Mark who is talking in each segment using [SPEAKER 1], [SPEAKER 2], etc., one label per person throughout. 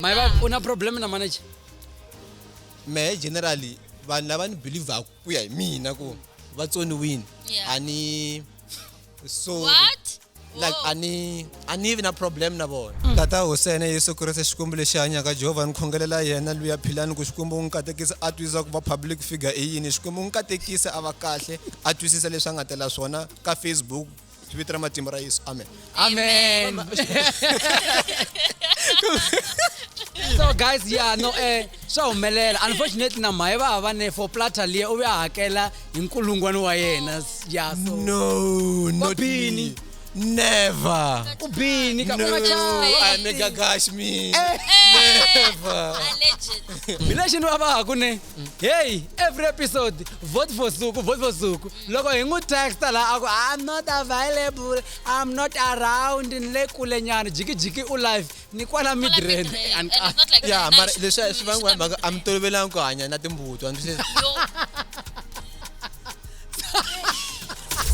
[SPEAKER 1] mai va u na problem na manager
[SPEAKER 2] mehe generally vanhu lava ni believaku ku ya hi mina ku va tsoniwini Yeah. a ni so What? like
[SPEAKER 3] Whoa. a ni
[SPEAKER 2] a ni vi na problem na vona Mm. tata hosene yesu kreste xikwembu lexi hanyaka jehovha ni khongelela yena luya philani ku xikwembu u n'wi katekisa a twisisa ku va public figure i yini xikwembu u n'wi katekisa a va kahle a twisisa leswi a nga tela swona ka facebook hi vito ra matimba ra yesu amen amen
[SPEAKER 1] so guys yeah no eh swa humelela unfortunately na mhaye va hava ne for platter liya u ve a hakela hi nkulungwani wa yena yeah so no not
[SPEAKER 2] me never u bini
[SPEAKER 1] ka no i make a gash
[SPEAKER 2] me never
[SPEAKER 3] hi lexi ni va va ha
[SPEAKER 1] ku ne mm. heyi every episode vote for suku vote for suku loko hi n'wi texta laha a ku i'm not available i'm not around ni le kule nyana jikijiki u live ni kwala midren
[SPEAKER 3] ya mara leswi swi
[SPEAKER 2] vangiwa mhaka a mi tolovelanga ku hanya na timbuti wa ndzi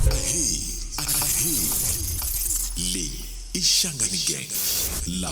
[SPEAKER 2] Hey, hey,
[SPEAKER 4] le ishangani gang la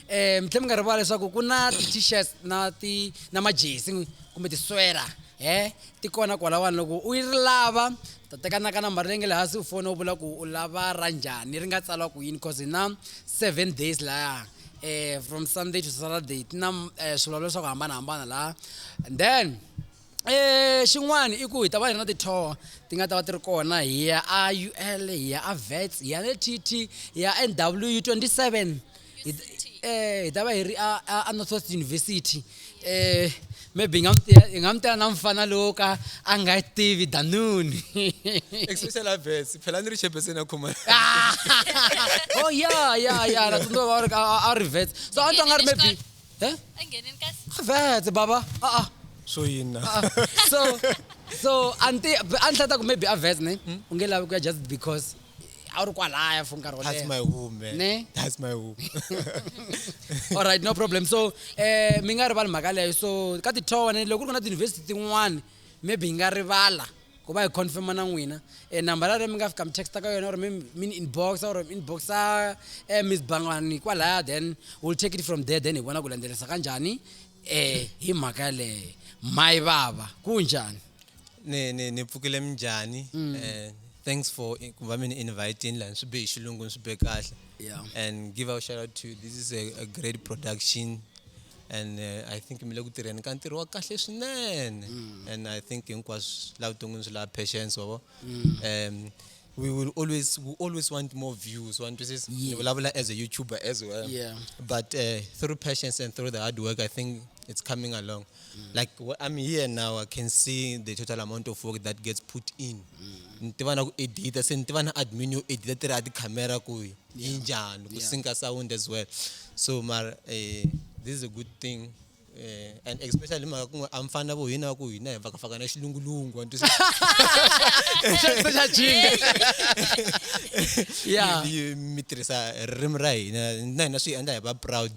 [SPEAKER 1] um mi tlhe mi nga rivala leswaku ku na ti-t-shirts na ti na majesi kumbe tiswela he ti kona kwalawani loko u yi lava ta tekanaka nambara leyi nge le hansi u fona u vula ku u lava ra njhani ri nga tsala ku yini cause hi na seven days laya um from sunday to saturday ti na um swilo leswaku hambanahambana laha and then Eh, xin'wana i ku hi ta va hi ri na ti-tour ti nga ta va ti ri kona hi ya a ul hi ya a vets hi ya le tt hi ya nw 27 hi t- eh, hi ta va hi ri a- a a north west university um maybe hi nga mu tiya- hi nga mu tela na mfana lowo ka a nga yi tivi danuni especially
[SPEAKER 2] avets phela ni ri xepeseni ya khoma Ah!
[SPEAKER 1] oh ya ya ya na tsundzuka va ri ka a- a ri vets so a ni twa nga ri maybe Eh? a
[SPEAKER 3] nghenin ka vete baba
[SPEAKER 1] a-a swo
[SPEAKER 2] yina a-a. so
[SPEAKER 1] so anti a ni hlata ku maybe a vete ne Hmm? u nge lavi ku ya just because a wu ri kwalaya for nkarhi wo that's my leha home man Ne?
[SPEAKER 2] that's my home all
[SPEAKER 1] right no problem so um mi nga rivali mhaka leyo so ka titowa ne loko ku ri ku na tiyunivhesiti tin'wana maybe hi nga rivala ku va hi confirma na n'wina e nambara leyi mi nga fika mi texta ka yona or mi mi ni inbox or mi inboxa eh, miss bangani kwalaya then we'll take it from there then hi vona ku landzelisa ka njhani eh hi mhaka yaleyo mayi vava ku njhani ni ni
[SPEAKER 2] ni pfukile minjhani Mm. eh thanks for i- ku va mi ni invitini la ni swi be hi xilungu ni swi be kahle Yeah. and
[SPEAKER 1] give a shout
[SPEAKER 2] out to this is a, a great production and uh, i think mi le ku tirheni ka ntirho wa kahle swinene mm. and i think hinkwaswo laha vuton'wini swi laha patience wavo mm. um we will always we always want more views want to say yeah. vulavula as a youtuber as well yeah. but uh,
[SPEAKER 1] through
[SPEAKER 2] patience and through the hard work i think it's coming along mm. like i'm here now i can see the total amount of work that gets put in mm. ni tiva na ku edita se ni tiva na admin yo edita tirha a tikhamera kuyi yinjani ku sinka sound as well so mara um this is a good thing Eh, and especially mhaka ku a mfana vo hina ku hina hi vakafaka na xilungulungu
[SPEAKER 1] ya mi tirhisa
[SPEAKER 2] ririmi ra hina na hina swi endla hi va proud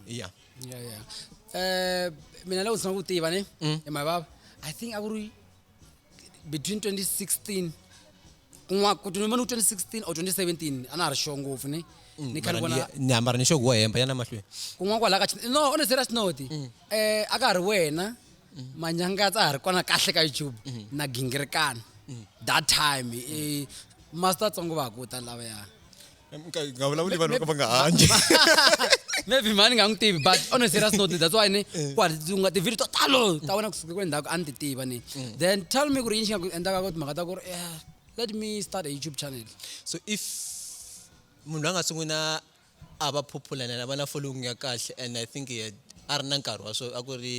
[SPEAKER 2] ya ya ya eh,
[SPEAKER 1] mina loko ndzi ku tiva ne mm. hi mavava i think a ku ri between 2016 kun'wana ku tinoma ni 2016 or 2017 a na ha ri sure ngopfu ni mm, ni khale vona ni hambara ni xogo hemba
[SPEAKER 2] yana mahlweni kun'wana kwala ka no
[SPEAKER 1] on a serious note mm. eh aka ha ri wena mm. manyanga tsa ha ri kona kahle ka YouTube na gingirekana that time eh, master tsongo va ku ta lava ya nga
[SPEAKER 2] vulavuli vanhu va nga hanyi maybe
[SPEAKER 1] mhani nga n'wi tivi but on a serious note that's why ni eh. kwaunga tivhidio to talo ta wena kusuka kule ndhaku a ni ti tiva ni mm. then tell me ku ri yini xi nga ku endlaka ku timhaka ta ku ri eh, let me start a youtube channel so if
[SPEAKER 2] munhu loyi a nga sungula a va popular na va na following ya kahle and i think a ri na nkarhi wa swo a ku ri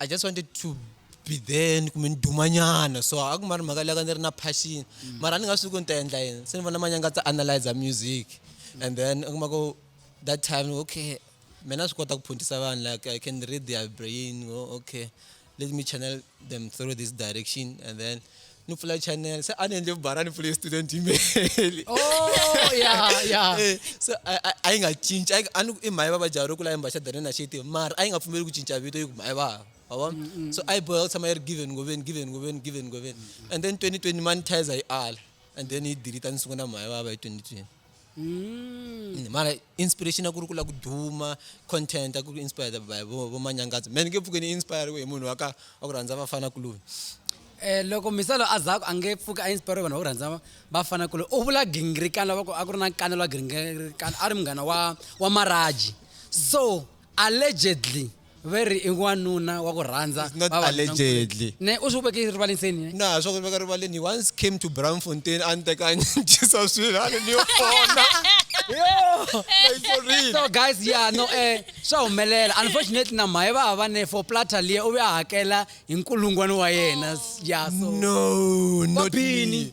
[SPEAKER 2] i just wanted to be there ni kumbe ni dumanyana so a ku ma ri mhaka leyi ka ni ri na passion mm. mara a ni nga swi ku ni ta endla yini se ni vona manyanga ta analyzer music mm. and then a ku ma ku that time okay mina swi kota ku phuntisa vanhu like i can read their brain oh, okay let me channel them through this direction and then ni pfula channel se a ni endle vubara ni pfule student email oh
[SPEAKER 1] yeah yeah eh, so
[SPEAKER 2] a yi nga cinci a ni i mhaya vava jaro ku la yimba xa dani na xiti mara a yi nga pfumeli ku cinca vito yi ku mhaya vava wabona mm, mm. so a yi boheka ku tshama yi ri given ngoveni given ngoveni given ngoveni mm, and then 2020 monetizer yi ala and then yi delete a ni sungula mhaya vava hi 2020 Mm. mara inspiration ya ku ri ku la ku duma content ya ku inspired by vo vo manyangadzo man nge pfuke ni inspiriwe hi munhu wa ka wa ku rhandza vafana kuloni eh loko
[SPEAKER 1] misalo a zaku a nge pfuke a inspire vanhu va ku rhandza vafana kuloni u vula gingirikani lava ku a ku ri na kanelo wa gingirikani a ri munghana wa wa maraji so allegedly ve ri i n'wanuna wa ku rhandza It's not vavanuna allegedly.
[SPEAKER 2] nkulu. ne u swi veke
[SPEAKER 1] rivaleni seni ne na swa ku veka rivaleni
[SPEAKER 2] he once came to braamfontein a ni teka a ni dyisa swilo a ni ni yo fona Like, for
[SPEAKER 1] real. so guys yeah no eh swa humelela unfortunately na mhaye va va ne for platter liya u ve a hakela hi nkulungwana wa yena yeah so no not
[SPEAKER 2] Kwabini. me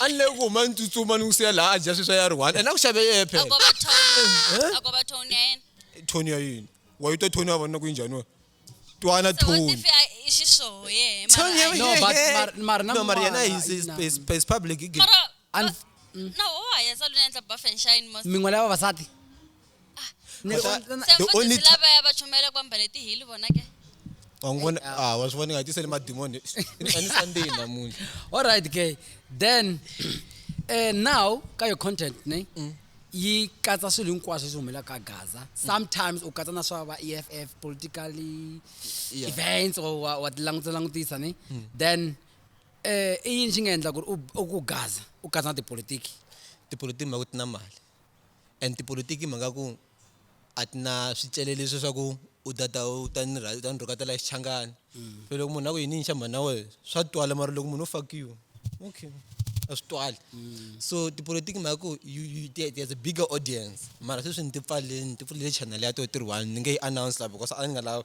[SPEAKER 2] a ni leyi ku huma ni tsutsuma ni n'wi siya laha a dya sweswi ya ri one and a ku xave yeye phela Agoba tone. Eh?
[SPEAKER 3] Agoba tone ya yena. thoni ya
[SPEAKER 2] yini wa yi twa thoni ya vona ku yi njhani wena twana So what thoni
[SPEAKER 3] if I- i xishoho yehe, mara Tony, I- No, but
[SPEAKER 1] mar- mara na no mara yena mwana,
[SPEAKER 2] is- is- is- is public gay. Mara- Unf- Na woho
[SPEAKER 1] hayeza
[SPEAKER 3] luna endla buff and shine most. mingwe la vavasati
[SPEAKER 1] Ni ri Kota- on- on-
[SPEAKER 2] Se The only mfundhisi ti- lava ya va chumela ku
[SPEAKER 3] ambale tihili vona ke wangona
[SPEAKER 2] ah wa swi vona nga tiseli madimoni ani sunday namuntlha all right ke
[SPEAKER 1] then eh now ka your content ne Mm. yi katsa swilo hinkwaswo leswi humelaka ka gaza sometimes u katsa na swa va e f f politically Yeah. Mm. events or wa wa ti langutisa langutisa ne then eh i yini xi nga endla ku ri u- u ku gaza u katsa na tipolitiki tipolotiki mhaka
[SPEAKER 2] ti na mali and tipolotiki mhaka ku a ti na swicelelo leswi swa ku u ta ta u ta ni u ta ni rhukatela xichangani mm. so loko munhu a ku yini yinxa mhani na wena swa twala mara loko munhu u fakiwe okay a swi twali mm. so tipolotiki mhaka ku there's a bigger audience mara sweswi ni ti pfaleni ni ti pfulele channel ya to ti ri one ni nge yi announce la because a ni nga lavi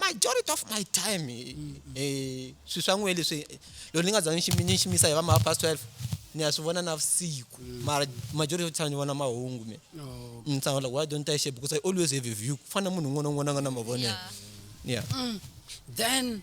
[SPEAKER 2] majority of my time eh, swi swa n'we leswi eh, loko ni nga za ni ximisa hi va ma past 12 ni ya swi vona na vusiku mm. mara majority of time ni vona mahungu me oh. ni tshama like why don't i share because i always have a view ku fana munhu un'wana un'wana a nga na mavonelo yeah mm. then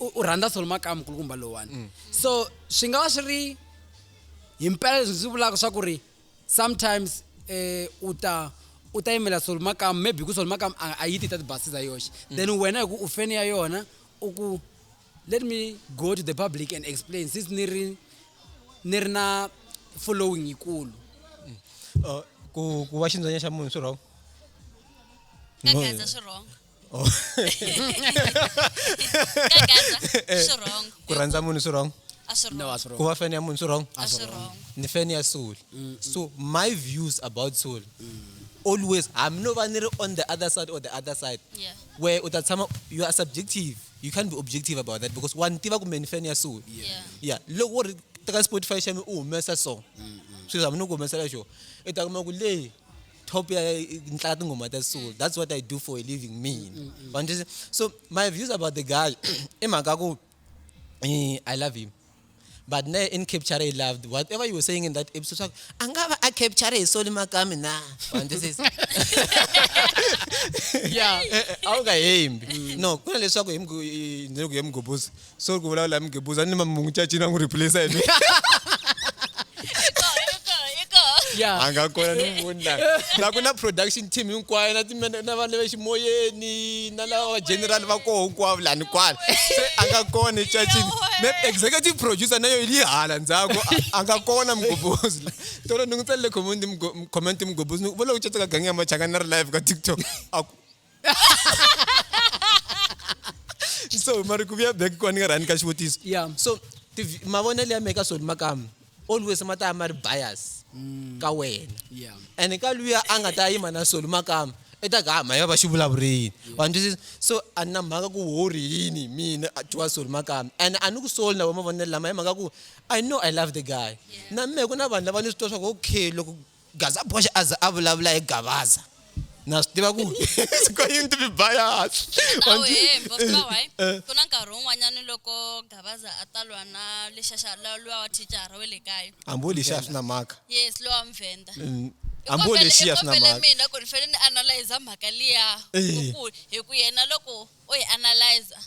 [SPEAKER 1] u rhandza swilo makaya mukulukumba lowani mm. so swi nga va swi ri hi mpela leswi ndzi vulaka swa ku ri sometimes um u ta u ta yimela swilo makaya maybe ku swilo makaya a yi ti ta tibasi za yoxe mm. then wena hi ku u feni ya yona u ku let me go to the public and explain since ni ri ni ri na following yikulu
[SPEAKER 2] mm. uh, ku ku va xindzwanya xa munhu swi wrong
[SPEAKER 3] Oh. Kagadza, Eh. swi wrong. ku rhandza munhu swi wrong
[SPEAKER 2] A swi No, wrong. a swi wrong. ku va
[SPEAKER 1] fan ya munhu swi wrong A
[SPEAKER 2] swi wrong. ni
[SPEAKER 3] fan ya soul
[SPEAKER 2] so my views about soul always hambi no va ni ri on the other side or the other side Yeah. where u ta
[SPEAKER 3] tshama
[SPEAKER 2] you are subjective you can't be objective about that because wa ni tiva kumbe ni fan ya soul Yeah. ya loko wo ri teka spotify xa mi u humesa song swilo hambi ni ku humesela xo i ta kuma ku leyi top ya nhlaka tinghoma ta soul that's what i do for a living mina mm, mm, mm. mm. so my views about the guy i mhaka ku eh, i love him but ne in capture i loved whatever you were saying in that episode swaku a nga va a capture hi soli makami na
[SPEAKER 1] a wu nga hembi
[SPEAKER 2] no ku na leswaku hi ku ye mugobosi sorry kuvulavula hi mugebuza ni mamungu cacina n'wi replace hi mi
[SPEAKER 1] Yeah. a nga kona ni n'wi
[SPEAKER 2] voni la la ku na production team hinkwayo na timene- na vanhu va ximoyeni na lava va general va koho hinkwavo lani kwala se a nga kona ecacini me executive producer na yo yi li hala ndzhaku a- a nga kona mugobozi la tolo ni n'wi tsalele comment mugo- comment mugobozi ni ku, vo loko caca ka gangi ya machangani na ri live ka tiktok a ku so mari ku vuya back kwani nga rhani ka xivutiso yeah so mavonelo ya meka swona makamu always ma ta ya ma ri bias mm. ka wena yeah and ka
[SPEAKER 1] luya a
[SPEAKER 2] nga ta yima na swona makamu i ta ka mhaka va xi vulavurini wa twisisa so a ni na mhaka ku wori yini mina twa soli makami and a ni ku soli na vo mavonelo lama hi mhaka ku i know i love the guy na mina ku na vanhu lava ni swi twa swa ku okay loko Gazaboxe a za a vulavula hi Gavaza. Na swi tiva ku ko yini to be biased. A wu hembi, wa swi tiva why? Eh.
[SPEAKER 3] Ku na nkarhi wun'wanyana loko Gavaza a ta lwa na lexaxa la- luwa wa thicara we le kaya. Hambi wo lexiya a swi na mhaka.
[SPEAKER 2] Yes, luwa wa Muvhenda.
[SPEAKER 3] Mm, I Hambi wo kombele- i
[SPEAKER 2] lexiya a swi na kombele mhaka. mina ku ni fanele ni
[SPEAKER 3] analyser mhaka liya Eh. ku- ku- hi ku yena loko u yi analyzer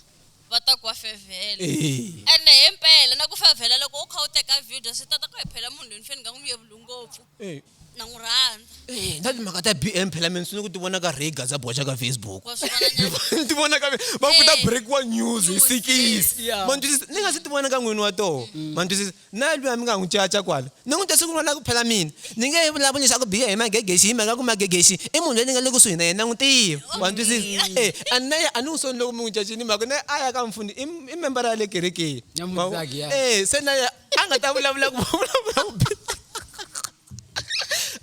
[SPEAKER 3] va ta ku wa fevhela Eh. ene hi mpela na ku fevhela loko u kha u teka video swi tata ku hi phela munhu loyi ni fane ni nga n'wi yevuli ngopfu Eh. na n'wi rhandza Eh, na timhaka ta bm
[SPEAKER 2] phela mina swi ni ku ti vona ka rega za boxa ka facebook wa swi vona nyana
[SPEAKER 3] ti vona ka va ku
[SPEAKER 2] ta Eh. breakiwa news hi News, sikisi Yeah. ma ni twisisa ni nga
[SPEAKER 1] si ti vona
[SPEAKER 2] ka n'wini wa toho ma ni twisisa Na lwiya mi nga n'wi caca kwala, ni n'wi twise ku lwa na ku phela mina. Ni nge he vulavuli swa ku biha hi Magegexi hi mhaka ku Magegexi i munhu loyi ni nga le kusuhi na yena, na n'wi tiva. Wa ni twisisa? E, a ni na yena, a ni n'wi soni loko mi n'wi cacile hi mhaka ku na yena a ya ka mufundhisi, i, i membara ya le kerekeni. Ma vona? E, se na yena a nga ta vulavula ku, vulavula ku biha.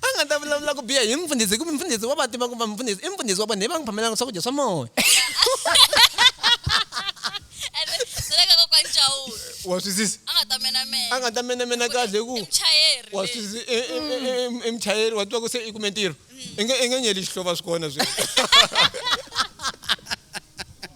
[SPEAKER 2] a nga ta vulavula ku biha hi mfundhisi hikuva mfundhisi wa va tiva ku va mfundhisi i mfundhisi wa vona hi va n'wi phamelaka swakudya swa moya
[SPEAKER 3] wa swisisa
[SPEAKER 2] a nga ta menemena kahle ku wa swisisa
[SPEAKER 3] e,
[SPEAKER 2] e, e, emuchayeri wa tiva ku se i kume ntirho mm. i nge nyeli xihlova swi kona swi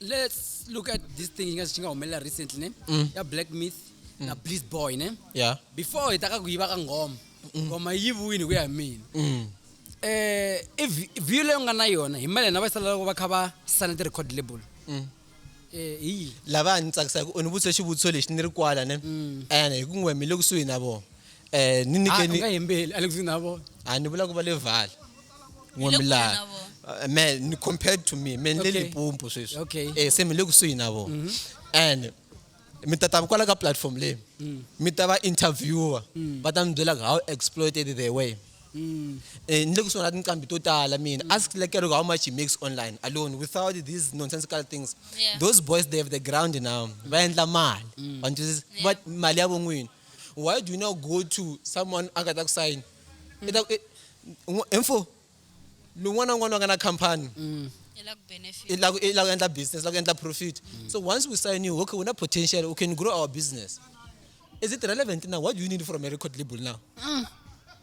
[SPEAKER 1] let's look at this thing ingathi xi nga humelela recently ne mm. ya black myth mm. na bliss boy ne yeah before hi ta
[SPEAKER 2] ka ku yiva
[SPEAKER 1] ka ngoma mm. ngoma yi yiviwini ku ya hi mina mm. eh i view leyi nga na yona hi mali na va sala loko va kha va sana ti record label mm. eh hi lava ni
[SPEAKER 2] tsakisa ku ni vutse xivutiso lexi ni ri kwala ne mm. ene hi ku ngwe mi le kusuhi na vona eh ni nike ah, ni nga yembeli alexi na
[SPEAKER 1] vona a ah, ni vula ku va le
[SPEAKER 2] vala n'wami laha
[SPEAKER 3] eh,
[SPEAKER 2] me
[SPEAKER 3] ni compared
[SPEAKER 2] to me me ni le lipumpu sweswi okay. eh se mi le kusuhi
[SPEAKER 1] na vona
[SPEAKER 2] mm -hmm. and mi ta ta kwala ka platform leyi mm. mi ta va interviewer mm. va ta mi byela how exploited they were Mm. Eh, ni le kusuhi na tinqambi to tala mina mm. ask lekero how much he makes online alone without these nonsensical things yeah. those boys they
[SPEAKER 3] have the
[SPEAKER 2] ground now va endla mali mm. va mali ya von'wini why do you not go to someone a nga ta ku sayini mm. i ta ku info lun'wana na un'wana wa nga na khampani mm.
[SPEAKER 3] i lava ku endla business
[SPEAKER 2] lava ku endla profit mm. so once we sign you okay u na potential u can grow our business is it relevant now what do you need from a record label now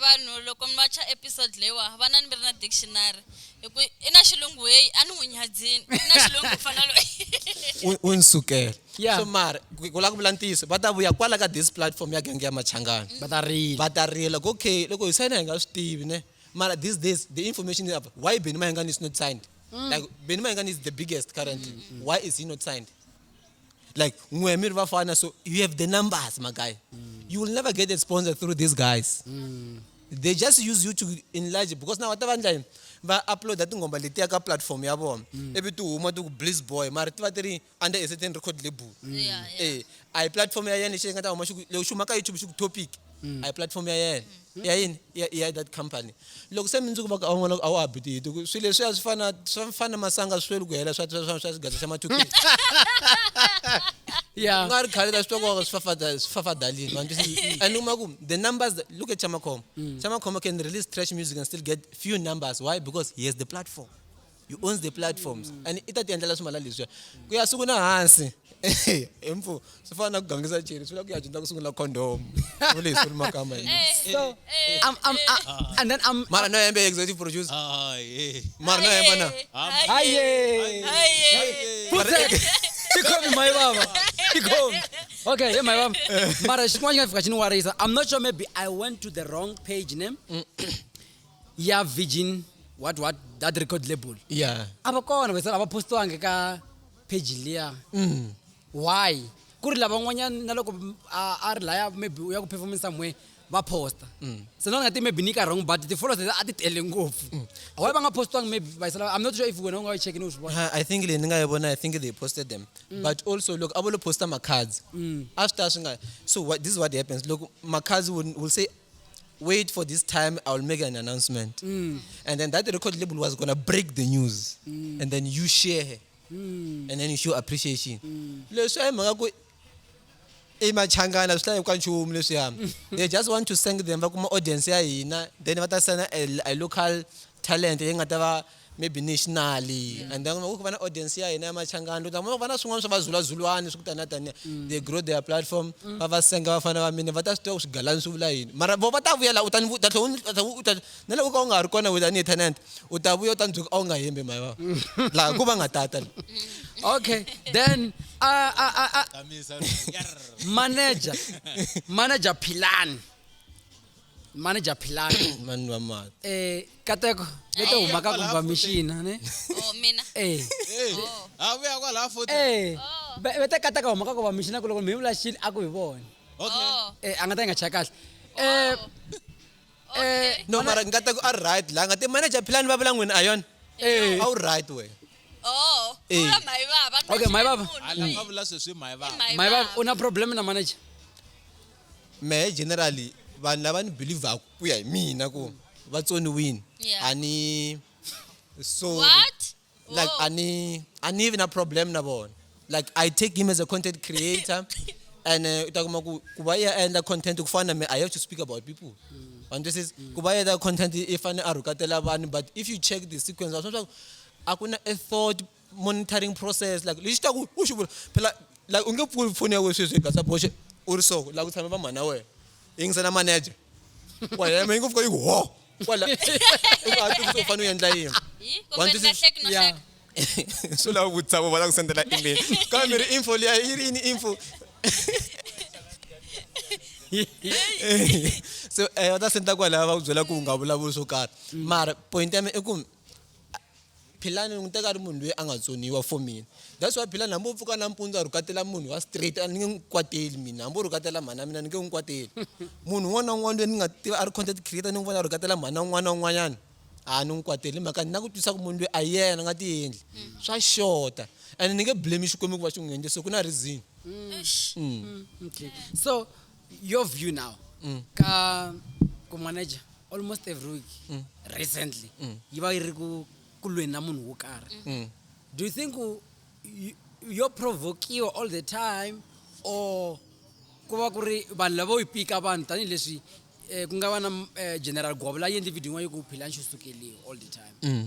[SPEAKER 3] vanhu loko mi va cha episode leyiwa va na ni mi ri na dictionary hi ku i na xilungu heyi a ni n'wi nyadzini i na xilungu ku fana loyi u ni
[SPEAKER 2] sukela Yeah. so
[SPEAKER 1] mara ku ku
[SPEAKER 2] lava ku vula ntiyiso va ta vuya kwala ka this platform ya genge ya machangana va ta rila va ta rila ku okay loko hi sayina hi nga swi tivi ne mara these days the information is up why benny mahengani is not signed like benny mahengani is the biggest currently why is he not signed like n'we mi ri vafana so you have the numbers my guy mm. you will never get a sponsor through these guys mm. they just use you to enlarge because now whatever ndla yini va uploada tinghoma letiya ka platform ya vona mm. ivi ti huma ti ku bliss boy mara ti va ti ri under a certain record label mm. e
[SPEAKER 3] a hi platform ya
[SPEAKER 2] yena lexi yi nga ta huma xi ku loko xi huma ka youtube xi ku topic a hi platform ya yena ya yini ya, ya that company loko se mindzuku va ku a wu n'wana a wu habiti hi ti ku swilo leswiya swi fana swi fana masanga sweli ku hela swa swa swa swa xigaza xa mathukisi ku
[SPEAKER 1] ya nga ri khale la swi twa ku
[SPEAKER 2] swifafada swifafadalini ma twisisi and u ma ku the numbers that- look at chamakhoma chamakhoma can release trash music and still get few numbers why because he has the platform he owns the platforms mm. and i ta ti endlela swi mala leswiya ku ya sungula hansi emfu swi fana na ku gangisa cheri swi vula ku ya dyondza ku sungula condom u leswi ri makama eh, eh, so eh,
[SPEAKER 1] I'm, I'm, I, and then I'm, mara no hembe executive
[SPEAKER 2] producer ah,
[SPEAKER 5] mara no hemba na
[SPEAKER 2] haye
[SPEAKER 1] tikhomi mayi baba tikhomi okay ye mayi baba mara xin'wana xi nga fika xi ni warisa i'm not sure maybe i went to the wrong page name ya virgin what what that record label ya a va kona
[SPEAKER 2] vese a va
[SPEAKER 1] postiwangi ka page liya mm. why ku ri lavan'wanyana na loko a a ri laya maybe u ya ku performance somewhere va posta mm. se na nga ti maybe ni ka wrong but ti-followers leti a ti tele ngopfu mm. why va nga postiwangi maybe vayisela i'm not sure if wena u nga yi checki ni u swi vona Ha, i think leyi ni nga yi vona
[SPEAKER 2] i think they posted them but also loko a vo lo posta makhadzi a swi ta swi nga so what, this is what happens loko makhadzi will, will say wait for this time i will make an announcement mm. and then that record label was gonna break the news mm. and then you share her mm. and then you show appreciation mm. leswi a hi mhaka ku i machangana swi hlayeku ka nchumu leswiya mm. they just want to thank them va kuma audience ya hina then va ta sena a local talent leyi nga ta va maybe nationally and then ku va na audience ya hina ya machangani ta kuma ku va na swin'wana swa vazulazulwani swi ku taniya taniya they grow their platform va va senga vafana va mina va ta swi tiva ku swigalani swi vula yini mara vo va ta vuya la u ta ni vu- ta tlhela u ni- u ta tlhela u ta na loko u ka u nga ha ri kona wena tanihi tenant u ta vuya u ta ni byela ku a wu nga hembi mhaya vava laha ku va nga tata la okay
[SPEAKER 1] then uh, uh, uh,
[SPEAKER 5] uh, manager
[SPEAKER 1] manager philani manager philani mani wa mani
[SPEAKER 2] eh kateko
[SPEAKER 1] leto Eh, huma ka kwalaho confirmation ne oh mina eh
[SPEAKER 3] oh
[SPEAKER 5] ha vuya kwalaha futhi eh Oh. be- beta
[SPEAKER 1] kateka huma ka confirmation ku loko mi vula xini a ku hi vona okay oh eh a
[SPEAKER 5] nga ta yi nga chaya kahle
[SPEAKER 1] eh oh
[SPEAKER 2] eh okay no mara ngata ku a right la ngati manager philani va vula n'wini a yona eh a wu right we oh Eh.
[SPEAKER 3] ula mai baba Okay, mai baba. hala
[SPEAKER 1] va vula sweswi
[SPEAKER 5] mhayi vava mai baba una problem
[SPEAKER 1] na manager
[SPEAKER 2] mehe generally vanhu lava ni believaku ku ya hi mina ku va tsoniwini Yeah. a ni sorry What?
[SPEAKER 3] like Whoa. a ni a ni vi na
[SPEAKER 2] problem na vona like i take him as a content creator and uh, u ta kuma ku ku va ya endla content ku fana na me i have to speak about people and this is ku va ya endla content i fane a rhukatela vanhu but if you check the sequence wa swa swa ku a ku na a thought monitoring process like lexi ta ku u xi vula phela like u nge pfuli foni ya wena sweswi hi gasa boxe u ri soko la ku tshame vamhani ya wena yingisela manager wa yema yi ngo pfuka yi ku ho kwala i ku hatisa u fanele u endla yini
[SPEAKER 1] swi lava
[SPEAKER 3] vutisa vo va la
[SPEAKER 2] ku sendela email kambe mi ri info liya yi ri yini info so um va ta senda kwalaya va ku byela ku u nga vulavuli swo karhi mara point ya mina i ku Philani ni n'wi teka a ri munhu loyi a nga tsoniwa for mina that's why philani hambi u pfuka nampundzu a rhukatela munhu wa straight a ni nge n'wi kwateli mina hambi u rhukatela mhana mina ni nge n'wi kwateli munhu un'wana na un'wana loyi ni nga tiva a ri content creator ni n'wi vona a rhukatela mhana un'wana na un'wanyana a ni n'wi kwateli hi mhaka ni na ku twisisa ku munhu loyi a yena a nga tiendli mm. swa xota and ni nge blame xikwembu ku va xi n'wi endle so ku na reason mm.
[SPEAKER 1] Mm. so your view now mm. ka ku manager almost every week mm. recently mm. yi va yi ri ku ku lweni na munhu wo karhi mm. do you think yo provokiwa all the time or ku va ku ri vanhu lava yi pika vanhu tanihileswi um ku nga va na um general govo la yi endli video yin'wana yi ku philanxo sukeliwa all the time mm.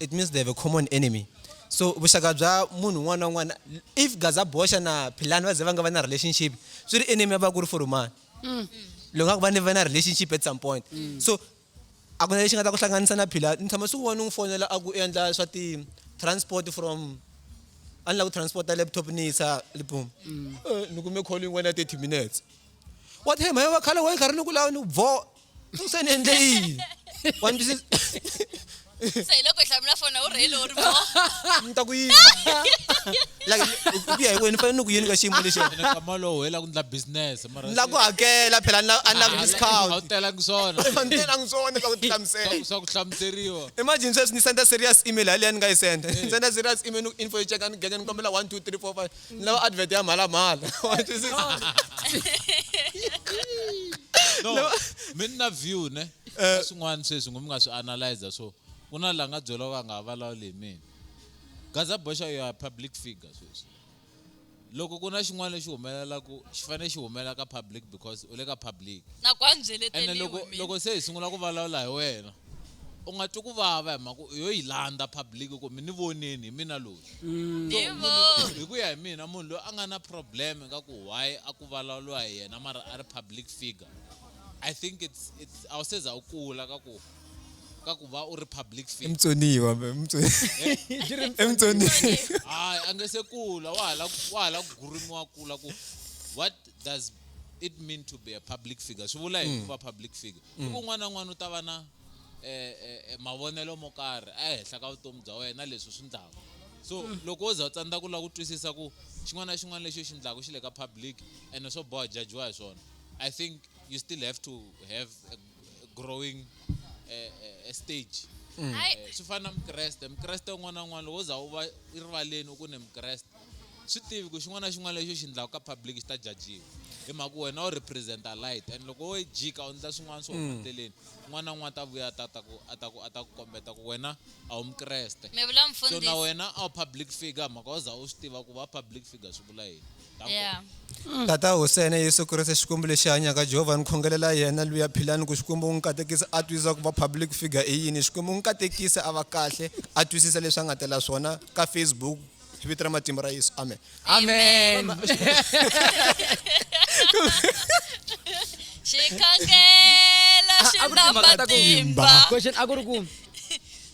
[SPEAKER 2] it means they have a common enemy so vuxaka bya munhu un'wana na un'wana if gaza boxa na philani va ze va nga va na relationship swi ri enemy ya va ku ri forumani mm. loko nga ku va ni va na relationship at some point mm. so a ku na lexi nga ta ku hlanganisa na philani ni tshama swi vona n'wi fonela a ku endla swa ti-transport from a ni lava ku transporta laptop ni yisa libum mm. eh, ni kume call yin'wana ya thirty minutes wa thema yo va khale wa yi karhi ni ku lava ni ku vo se ni endle yini wa ni twisisa se hi
[SPEAKER 3] loko hi hlamula fona u rhele u ri mo ni ta ku yini
[SPEAKER 2] like hi ku ya hi wena ni fanele ni ku yini ka xiyimo lexi ene kama lowu hela ku
[SPEAKER 5] ndla business mara ni la ku hakela phela
[SPEAKER 2] ni la- a ni lavi a wu discount telangi swona
[SPEAKER 5] fanitelangi swona swa
[SPEAKER 2] ku ti hlamusela Swa- swa ku hlamuseriwa
[SPEAKER 5] imagine sweswi ni senda
[SPEAKER 2] serious email haleya ni nga yi senda ni senda serious email ni ku info yi cheka ni genya ni kombela one two three four five ni lava advert ya mhalamhala wa twisisa
[SPEAKER 5] no mi ni na view ne Eh. Ka swin'wana sweswi ngo mi nga swi analyzer so ku na la nga byela va nga ha vulavuli hi mina gaza boxa you are public figure sweswi loko ku na xin'wana lexi humelelaku xi fanele xi humelela ka public because u le ka public na ku andzeleteriwe
[SPEAKER 3] ene loko mina. loko se hi
[SPEAKER 5] sungula ku vulavula hi wena u nga twi ku vava hi mhaka u yo yi landza public ku mi ni voneni hi mina loyi mm. hi ku ya hi mina munhu loyi a nga na problem ka ku why a ku vulavuriwa hi yena mara a ri public figure i think it's it's a wu seza u kula ka ku ka ku va u ri public figure emtsoniwa
[SPEAKER 2] emtsoniwa hayi a nge se
[SPEAKER 5] kula wa hala wa hala ku gurimiwa kula ku what does it mean to be a public figure swi vula yini mm. ku va public figure hi ku un'wana na un'wana u ta va na eh, eh, eh, mavonelo mo karhi ehenhla ka vutomi bya wena leswi swi ndlaka so mm. loko wo za u tsandza ku lava ku twisisa ku xin'wana na xin'wana lexi u xi ndlaka xi le ka public ene swo boha jajiwa hi swona i think you still have to have a growing eh, eh, a stage mm. swi fana na mukreste mukreste un'wana na un'wana loko wo za u va rivaleni u ku ne mukreste swi tivi ku xin'wana na xin'wana lexi u xi endlaka ka public xi ta jajiwa hi mhaka wena u representa light and loko wo yi jika u endla swin'wana swo huma endleleni un'wana na un'wana ta vuya a ta ta ku a ta ku a ta ku kombeta ku wena a wu mukreste mi vula so na mfundhisi
[SPEAKER 3] wena a wu
[SPEAKER 5] public figure mhaka u za u swi tiva ku va public figure swi vula yini Ta nkoka. yeah
[SPEAKER 3] Tata
[SPEAKER 2] Hosene Yesu Kreste Xikwembu lexi hanyaka Jehovha ni khongelela yena luya philani ku Xikwembu u n'wi katekisa a twisisa ku va public figure i yini Xikwembu u n'wi katekisa a va kahle a twisisa leswi a nga tela swona ka Facebook hi vito ra matimba ra yesu amen amen
[SPEAKER 3] xikhangela xi A- a ku ri na timhaka ta ku- matimba question a ku ri ku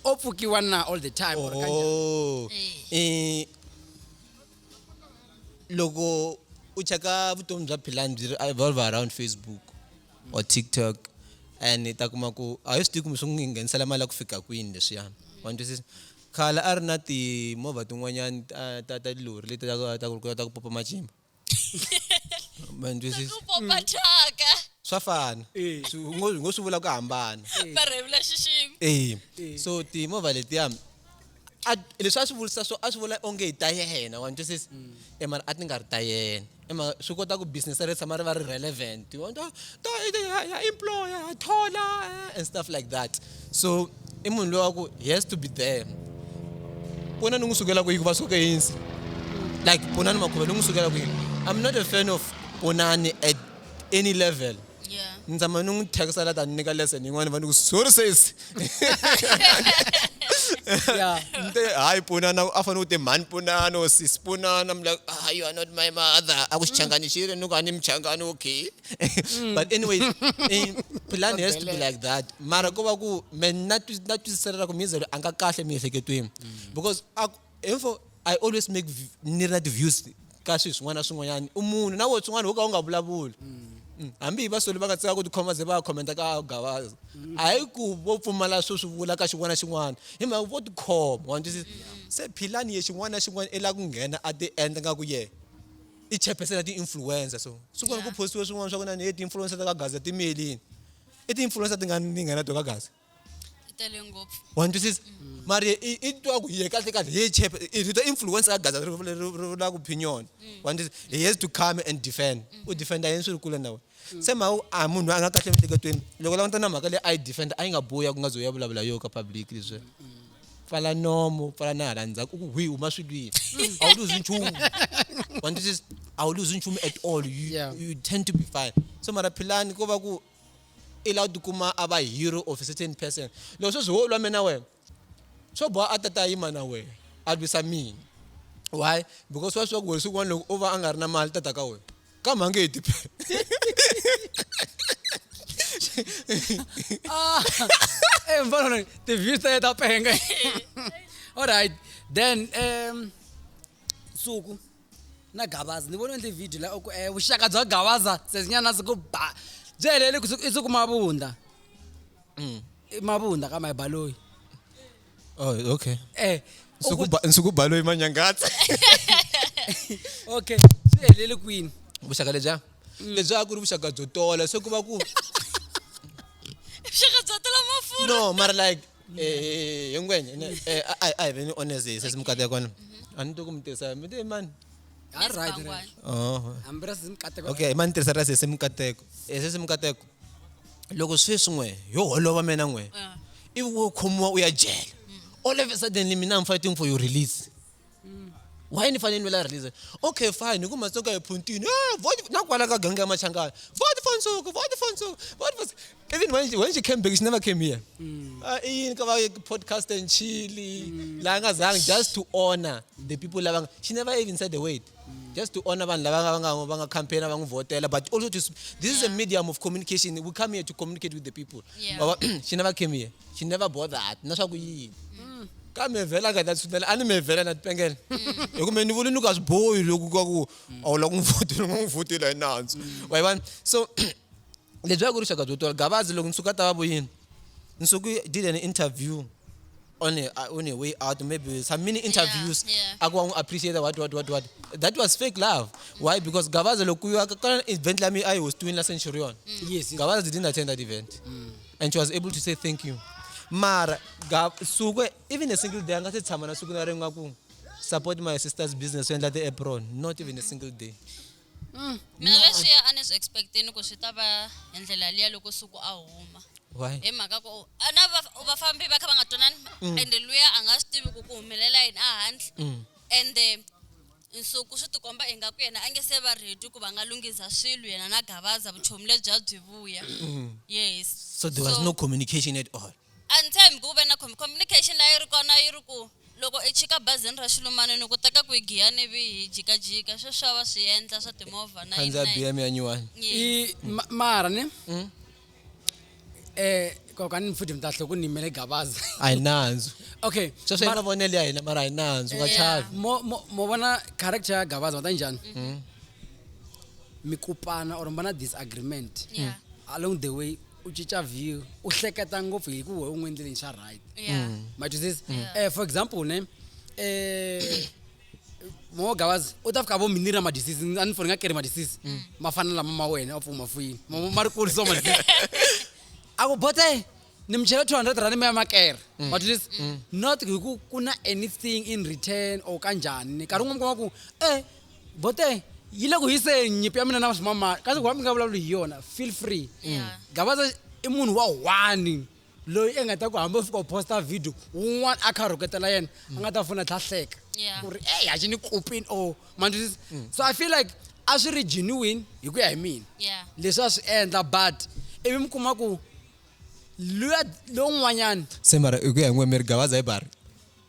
[SPEAKER 1] o pfukiwa na all the time or kanjhani? Oh.
[SPEAKER 2] Eh, loko u cheka vutomi bya philani byi ri evolve around facebook or tiktok and i ta kuma ku a hi swi tivi kumbe swi n'wi nghenisela mali ya ku fika kwini leswiyani wa ni twisisa Khale a ri na timovha tin'wanyani ta ta ta tilori leti ta ta ku ta ku popa macimba. Ma ni twisisa? Ku popa thyaka.
[SPEAKER 3] Swa fana.
[SPEAKER 2] Swi u ngo u ngo swi vula ku hambana. Va rhevula
[SPEAKER 3] xiximi. E, so timovha
[SPEAKER 2] letiya a leswi a swi vulisa swo a swi vula onge i ta yena wa ni twisisa? E mara a ti nga ri ta yena. i ma swi kota ku business ri tshama ri va ri relevant you want to to ya employ ya thola eh, and stuff like that so i munhu loyi wa ku he has to be there pona ni n'wi sukela ku yi ku va suke yinsi like ponani makhuva ni n'wi sukela ku yini i'm not a fan of ponani at any level yeah. ni tshama
[SPEAKER 3] ni n'wi thyakisa
[SPEAKER 2] la ta ni nyika lesson yin'wana va ni ku sorry sis
[SPEAKER 1] nte hayi
[SPEAKER 2] pfunana a fanele u te mhani pfunana or sis pfunana i'm like ah you are not my mother a ku xichangani xi ri ni ku a ni muchangani okay mm. but anyway eh, plan has to be like that mara ko va ku me na twisisela ku mizelo a nga kahle miehleketweni mm. because Even for I always make vi- ni ri na ti-views ka swilo swin'wana na swin'wanyana u munhu na wehe swin'wana wo ka u nga vulavuli Mm, hambi hi vasoli va nga tsika ku tikhoma ze va ya khomenta ka gavaza a hi ku vo pfumala swo swi vula ka xin'wana na xin'wana hi mhaka vo tikhoma wa ni twisisa se philani ye xin'wana na xin'wana i la ku nghena a ti endla nga ku yena i chairperson ya ti-influencer so siku leri ku Yeah. postiwe swin'wana swa ku na ni ye ti-influencer ta ka gaza ti miyelini i ti-influencer ti nga ni nga na to ka gaza yi tele
[SPEAKER 3] ngopfu wa ni twisisa
[SPEAKER 2] mara i i- i twa ku hi ye kahle kahle hi ye chep i rito influence ka gaza ri ri- ri- ri vula ku opinion wa ni twisisa he has to come and defend u defenda yini swi ri kule na wena se mhaka ku a munhu loyi a nga kahle emiehleketweni loko u langutana na mhaka leyi a yi defenda a yi nga bohi ya ku nga ze u ya vulavula yo ka public leswi pfala nomu pfala na hala ndzhaku u ku hwi huma swilwini a wu luzi nchumu wa ni twisisa a wu luzi nchumu at all you, Yeah. you tend to be fine so mara philani ko va ku i lava ku tikuma a va hero of a certain person loko sweswi ho lwa mina wena swo boha a tata yima na wena a lwisa mina why because wa swi tiva ku wena siku n'wana loko o va a nga ri na mali tata ka wena kambe a nge he tiphele
[SPEAKER 1] ah, eh, mfana ti-views ta ta penga alright then um suku na gavaza ni vona ndzi video la oku e eh, vuxaka bya gavaza sesinyana siku ba byi helele i siku mavunda mm. mavunda ka mayibaloyi
[SPEAKER 2] oh okay eh
[SPEAKER 1] nsuku baloyi
[SPEAKER 2] manyangatsa
[SPEAKER 1] okay swi helele kwini vuxaka lebya mm.
[SPEAKER 2] lebyi a ku ri vuxaka byo tola se ku va ku vuxaka
[SPEAKER 3] byo tola mafurha no mara like
[SPEAKER 2] yonke enye ayi veni onezisa simkate kona ani to ku mi tirhisa mi te mani
[SPEAKER 1] okay mani tirhisa ra sesi
[SPEAKER 2] mikateko e sesi mikateko loko sweswi n'we yo holova mina n'we ivi wo khomiwa u ya jele all of a suddenly mina i'm fighting for your release mm. why ni fanele ni vela release okay fine hi ku matsoka hi phuntini eh, vote na kwala ka gangi ya machangana vote for nsuku vote for nsuku vote for even when she, when she came back she never came here mm. uh, in ka podcast and chili mm. la nga zanga just to honor the people lava she never even said the word mm. just to honor vanhu lava nga va nga campaign va n'wi votela but also to this yeah. is a medium of communication we come here to communicate with the people yeah. she never came here she never bothered na swa ku yini mm. ka mevhela a nga ta tshunela a ni mevhela na tipengela mm. hi kumbe ni vuli ni ku a swi bohi loku ka ku a wu la ku n'wi vutile n'wi vutile hi nandzu mm. wa yi vona so lebyi a ku ri xaka byo tola gavazi loko nsuku a ta va vuyini nsuku did an interview on a, uh, on a way out maybe some mini interviews yeah, yeah. aku wangu appreciate what what what what that was fake love why because gavaza lokuyo akakana event lami i was doing la centurion mm. yes, yes gavaza didn't
[SPEAKER 1] attend that
[SPEAKER 2] event mm. and she was able to say thank you mara suku even a single day a nga se tshama na siku na ri nga ku support my sister's business to endla ti-apron not even a single day mm.
[SPEAKER 3] mina leswi a ni swi expecteni ku swi ta va hi ndlela liya loko suku a huma hi mhaka ku na vafambi va kha va nga twanani mm. ende luya a nga swi tivi ku ku humelela yini a handle mm. ende Nsuku swi tikomba ingaku yena a nge se va ready ku va nga lunghisa swilo yena na Gavaza vuchomi lebya byi vuya. Yes. So there was no
[SPEAKER 2] communication at all. A ni tshembi ku ve na
[SPEAKER 3] com- communication leyi ri kona yi ri ku loko i chika bazini ra xilumane ni ku teka ku hi giya ni vi hi jikajika sweswi a va swi endla swa timovha na yini khandziya na yini. bm ya nyuwani
[SPEAKER 2] Yes. i ma-
[SPEAKER 1] mara ne Eh kaka ni futhi mi ta hloko ni mele gabaza. A hi nandzu.
[SPEAKER 2] Okay. Sweswo
[SPEAKER 1] i mavonelo ya
[SPEAKER 2] hina mara a hi nandzu nga chavi. Mo mo mo vona
[SPEAKER 1] character ya gabaza ta njhani? Mm. Mi kupana or mi va na disagreement. Yeah. Along the way u cinca view u hleketa ngopfu hi ku wehe u n'wi endleleni xa right. Yeah. Mm. Ma twisisa? Eh for example ne eh mogavazi u ta fika vo mi ni ra madisisi a ni foni nga keri madisisi mm. ma fana lama ma wena a pfuma fuyini ma ri kuli so madisisi a ku bote ni mi chela two hundred rand mi ya makera mm. madisisi mm. not hi ku ku na anything in return or ka njhani nkarhi un'we mi kuma ku e eh, bote yi le ku hiseni nyipi ya mina na swimamani kasi ku va mi nga vulavuli hi yona feel free gavaza i munhu wa one loyi enga ta ku hambi u fika u posta video wun'wana a kha a rhuketela yena a nga ta fona tlha hleka Yeah. ku ri eyi haxi ni kopini or mandlisisa Mm. so i feel like a swi ri genuine hi ku ya hi mina Yeah. leswi a swi endla but ivi mi kuma ku luya lowun'wanyana se mara hi ku ya hi n'we
[SPEAKER 2] mi ri gavaza hi bari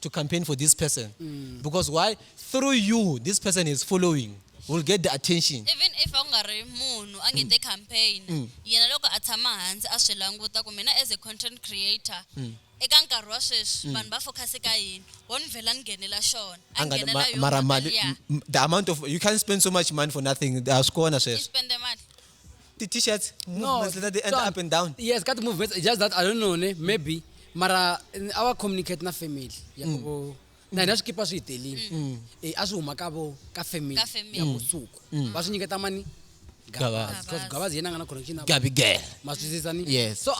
[SPEAKER 2] to campaign for this person mm. because why through you this person is following will get the attention even if a ku nga ri
[SPEAKER 3] munhu a nge te mm. campaign mm. yena loko a tshama hansi a swi languta ku mina as a content creator mm. eka nkarhi wa sweswi mm. vanhu va focus ka yini wo ni vhela ni nghenela xona a nghenela yona mara mali
[SPEAKER 2] the amount of you can't spend so much money for nothing a swi kona sweswo
[SPEAKER 3] ti t-shirts
[SPEAKER 2] movements leta ti enter up and down yes ka ti movements just
[SPEAKER 1] that i don't know ne maybe mara our communicate na family ya mm. ku na hina swikipa swi hi telile mm. eh, a swi huma ka vo ka family ya vusuku mm. va swi nyiketa mani because
[SPEAKER 2] gavazi yena a nga na
[SPEAKER 1] connection gabi girl ma swisisa
[SPEAKER 2] ni yes
[SPEAKER 1] so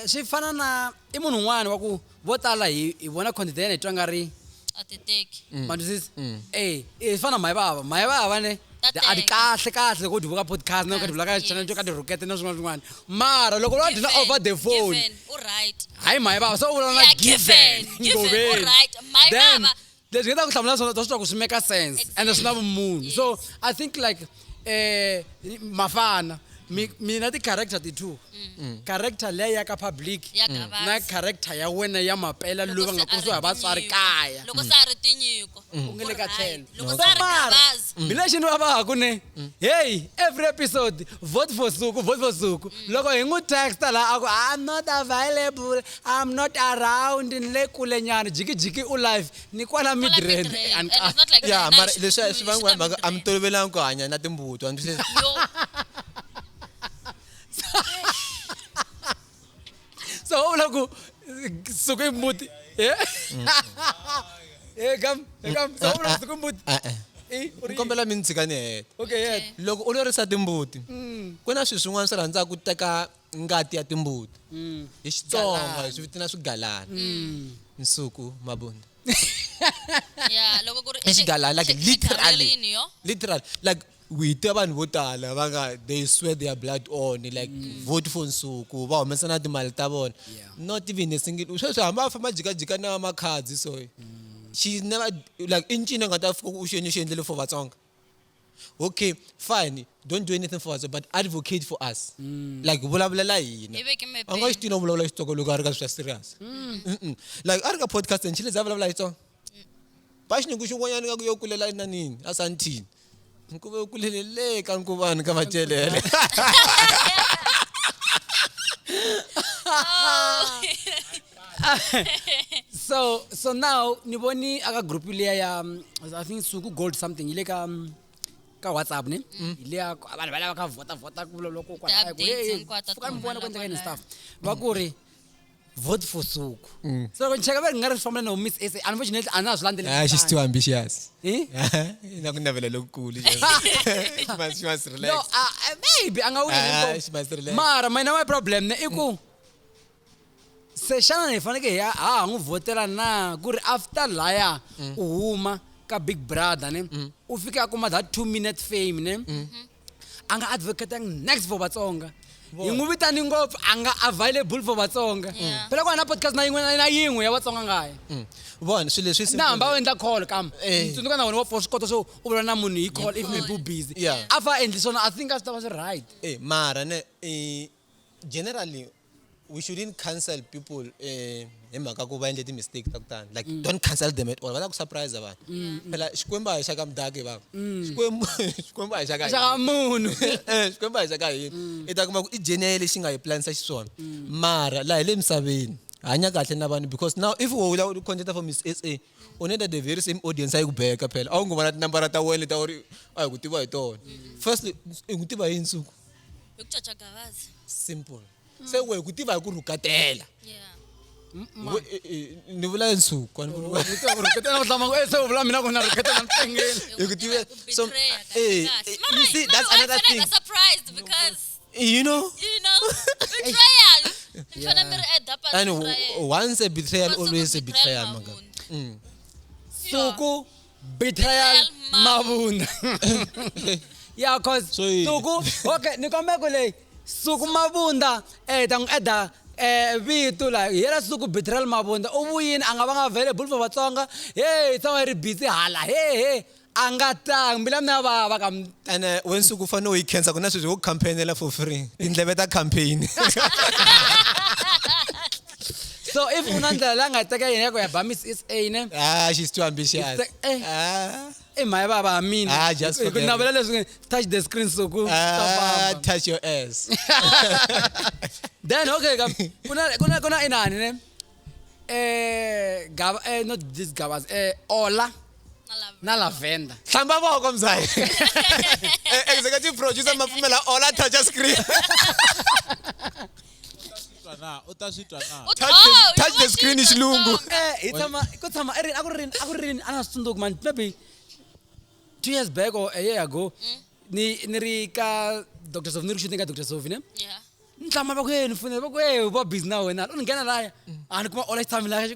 [SPEAKER 1] swi fana na i munhu un'wana wa ku vo tala hi hi vona content ya yena hi twa nga ri a ti teki Mm.
[SPEAKER 3] ma twisisa Mm.
[SPEAKER 1] eh eh, swi fana na mhayi vava mhayi vava ne Ta ti- a ti teka. kahle kahle loko u ti vuka podcast na u ka ti vula ka Yes. channel to ka tirhukete na swin'wana swin'wana mara loko va dyi na over the phone given u right hayi
[SPEAKER 3] mhayi vava so u
[SPEAKER 1] vulavula na Yeah, given, given, u right.
[SPEAKER 3] Mhayi Then, vava, leswi hi ta ku hlamula
[SPEAKER 1] swona ta swi twa ku swi make sense and swi na vumunhu so i think like eh mafana mina ti-character ti-two mm. character leya ya ka public mm. na character ya wena ya mapela loyi va nga kurisiwa hi vatswari kaya
[SPEAKER 3] mm. u nge le ka tlhelo mina xini va vahaku
[SPEAKER 1] ne heyi every episode vote for suku vote for suku loko hi n'wi texta laha a ku i'm not available I'm not around ni le kule nyana jikijiki u live ni kwala Kwala Midrand Midrand, and and ka- it's not like
[SPEAKER 3] ya Nine mara Nine leswi swi
[SPEAKER 2] vangiwa hi mhaka a mi Midrand. tolovelanga ku hanya na timbuti wa mi swi- Yo,
[SPEAKER 1] so u vula ku suku i mbuti Eh? Eh, kam eh, kam so u vula ku suku i mbuti Eh, eh. Eh, u ri- ni kombela
[SPEAKER 2] mi ni tshika ni heta okay yeah loko u
[SPEAKER 1] lorisa
[SPEAKER 2] timbuti ku na swilo swin'wana swi rhandzaka ku teka ngati ya timbuti hi xitsonga hi swi vitana swigalana nsuku mabunda
[SPEAKER 3] ya loko ku ri i xigalana like
[SPEAKER 2] literally literally like we tiva vanhu vo tala va nga they swear their blood on like mm. vote for nsuku va humesa na timali ta vona not even a single sweswi hamba va famba jikajika na makhadzi so mm. she never like i ncini a nga ta fika u xi endle xi endlele for vatsonga okay fine don't do anything for us but advocate for us mm. like vulavulela hina a nga xi tini u vulavula xitsongo loko a ri ka swi swa serious mm. like a ri ka podcast and chile za vulavula xitsongo ba xinyungu xin'wanyana nga ku yo kulela enanini a santini nkuve u kulele le ka nkuvani ka macelele oh.
[SPEAKER 1] so so now ni voni aka group leya ya um, i think suku gold something yi le ka um, ka whatsapp ne mm. hi leya vanhu va lava ka vhota vhota ku loko kwalafuka mi vona ku endleka yini stuff va ku ri vote for suku mm. so loko ni cheka va ri nga ri fambela no miss sa unfortunately a na swi landzelaa ah, she's too ambitious
[SPEAKER 2] eh? na ku navela lokukulu maybe
[SPEAKER 1] a nga wini ah, mara mina my problem ne i ku mm. se xana hi fanekele hi ha ha n'wi vhotela na ku ri after laya mm. u huma ka big brother ne mm. u fike a kuma that two minute fame ne mm-hmm. a nga advocating next for vatsonga hi n'wi vitani ngopfu a nga available for vatsonga phela ku va na podcast na yin'we na yin'we ya vatsonga ngaye mm. vona swilo
[SPEAKER 2] leswi na hamba u endla call
[SPEAKER 1] kama eh. tsundzuka na wena wa for swi kota swo u vula na munhu hi call if maybe u busy a fa endli swona i think a swi ta va swi right eh, mara ne
[SPEAKER 2] eh, generally we shouldn't cancel people eh, hi mhaka ku va endle ti-mistake ta ku tani like mm. don't cancel them at all va ta ku surprise vanhu mm, mm. phela xikwembu a hi xa ka mudaki va xikwembu xikwembu a hi xa ka munhu eh,
[SPEAKER 1] xikwembu a hi xa
[SPEAKER 2] ka hina i ta kuma ku i jeni ya ye lexi nga hi planisa xiswona mara laha hi le misaveni hanya kahle na vanhu because now if wo wula u content for miss sa u need the very same audience a yi ku beka phela a wu ngo vona tinambara ta wena leta u ri a hi ku tiva hi tona firstly i ku tiva hi nsuku hi ku caca
[SPEAKER 3] gavazi simple
[SPEAKER 2] se wehe ku tiva hi ku rhukatela yeah We- e- e- ni vula nsuku a ni vuli- hi ku tiva so eh, eh, you
[SPEAKER 1] see that's another thing surprised because you know you
[SPEAKER 2] know betrayal ni fana mi
[SPEAKER 3] ri
[SPEAKER 2] add
[SPEAKER 3] up
[SPEAKER 2] and w- once a betrayal always a betrayal manga
[SPEAKER 1] suku betrayal mavunda ya cause So yini? suku okay ni kombe ku leyi suku mavunda eh ta n'wi eda eh vito la hi yela suku betrayal mavunda u vuyini a nga va nga available for vatsonga hey tsonga yi ri busy hala he he a nga tangi mbila mina ya vava ka mi- ene wensuku u
[SPEAKER 2] fanele u yi khensa ku na sweswi wo campaignela for free tindleve ta campaign
[SPEAKER 1] so if unandlela la nga teka yena yako ya ba miss sa ne ah she's too ambitious
[SPEAKER 2] It's like, eh. ah i mhaya baba
[SPEAKER 1] hamini Ah, just Hi ku forget navela leswi
[SPEAKER 2] touch
[SPEAKER 1] the screen so ku ta ah famba. touch
[SPEAKER 2] your ass
[SPEAKER 1] then okay ka kuna kuna kuna inani ne eh gaba eh not this gabas eh ola na lavender hlamba voko mzali
[SPEAKER 2] Eh, executive producer mapfumela ola touch your screen Twa na, u ta swi twa na. U- Touch the- oh, touch you the were screen singing hi the xilungu. song. Eh, hi tshama ku tshama
[SPEAKER 1] i rini a ku ri rini a ku ri rini a na swi tsundzuki mani maybe two years back or a year ago ni ni ri ka dr sofi ni ri shooting ka dr sofi ne Yeah. ni tlama
[SPEAKER 3] va ku ye
[SPEAKER 1] ni fonela va ku ye va busy na wena u ni nghena laya a ni kuma all time laya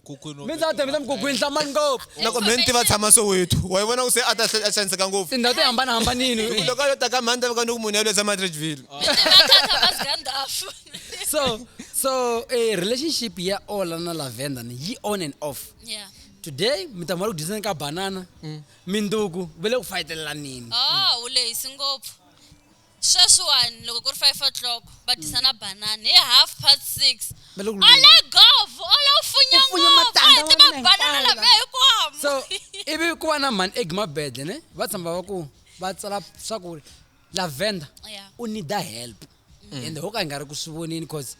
[SPEAKER 5] mi ndza ta mina mukugwini
[SPEAKER 1] hlamani ngopfu loko mhenti va tshama
[SPEAKER 2] soweto wa yi vona ku se a ta a xaniseka ngopfu tindhawu ti hambanahambanini
[SPEAKER 1] loko a yo ta ka mhani ta
[SPEAKER 2] veka ni ku munhu yaloyi tshama tridgeville
[SPEAKER 1] so so eh, relationship ya ola na lavender ni yi on and off yeah today
[SPEAKER 3] mi ta
[SPEAKER 1] mali ku dyiseni ka banana minduku va le ku fayitelelanini oh u lehisi
[SPEAKER 3] ngopfu sweswiwani loko ku ri five o'clock va dyisa na banana hi half past six va le ku a le gov ola u funya U funya ngopfu a hi matandza tiva ma mina banana
[SPEAKER 1] hinkwawo. lambe
[SPEAKER 3] hikwamo so ivi
[SPEAKER 1] ku va na mhani eg mabedle ne va tshamba va ku va tsala swa ku lavender Yeah. u need help ende ho ka hi nga ri ku swi voneni cause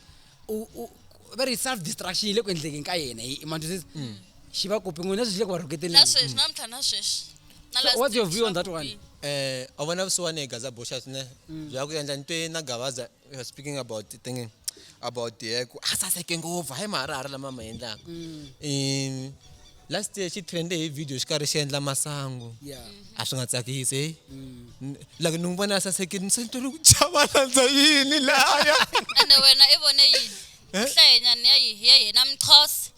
[SPEAKER 1] u- u- va ri self distraction yi le ku endlekeni ka yena hi manjusisi xi va kopi n'wina sweswi xi le ku va rhuketeni na sweswi na mtlha na
[SPEAKER 3] sweswi na So last what's your week view
[SPEAKER 1] on swa that ku one? biha. Eh, a vona
[SPEAKER 2] vusiwani hi gaza boshas ne bya ku endla ni twe na gavaza we were speaking about the thing about the ku a saseke ngopfu hayi mahara hari lama ma endlaka um last year xi trende hi video xi karhi xi endla masangu a swi nga
[SPEAKER 1] tsakisi
[SPEAKER 2] heyi mm. like ni n'wi vona a sasekile ni se ni tole ku chava landza yini laya ene wena i
[SPEAKER 3] vone yini eh? hlayenyani ya yi ya yena mxhosa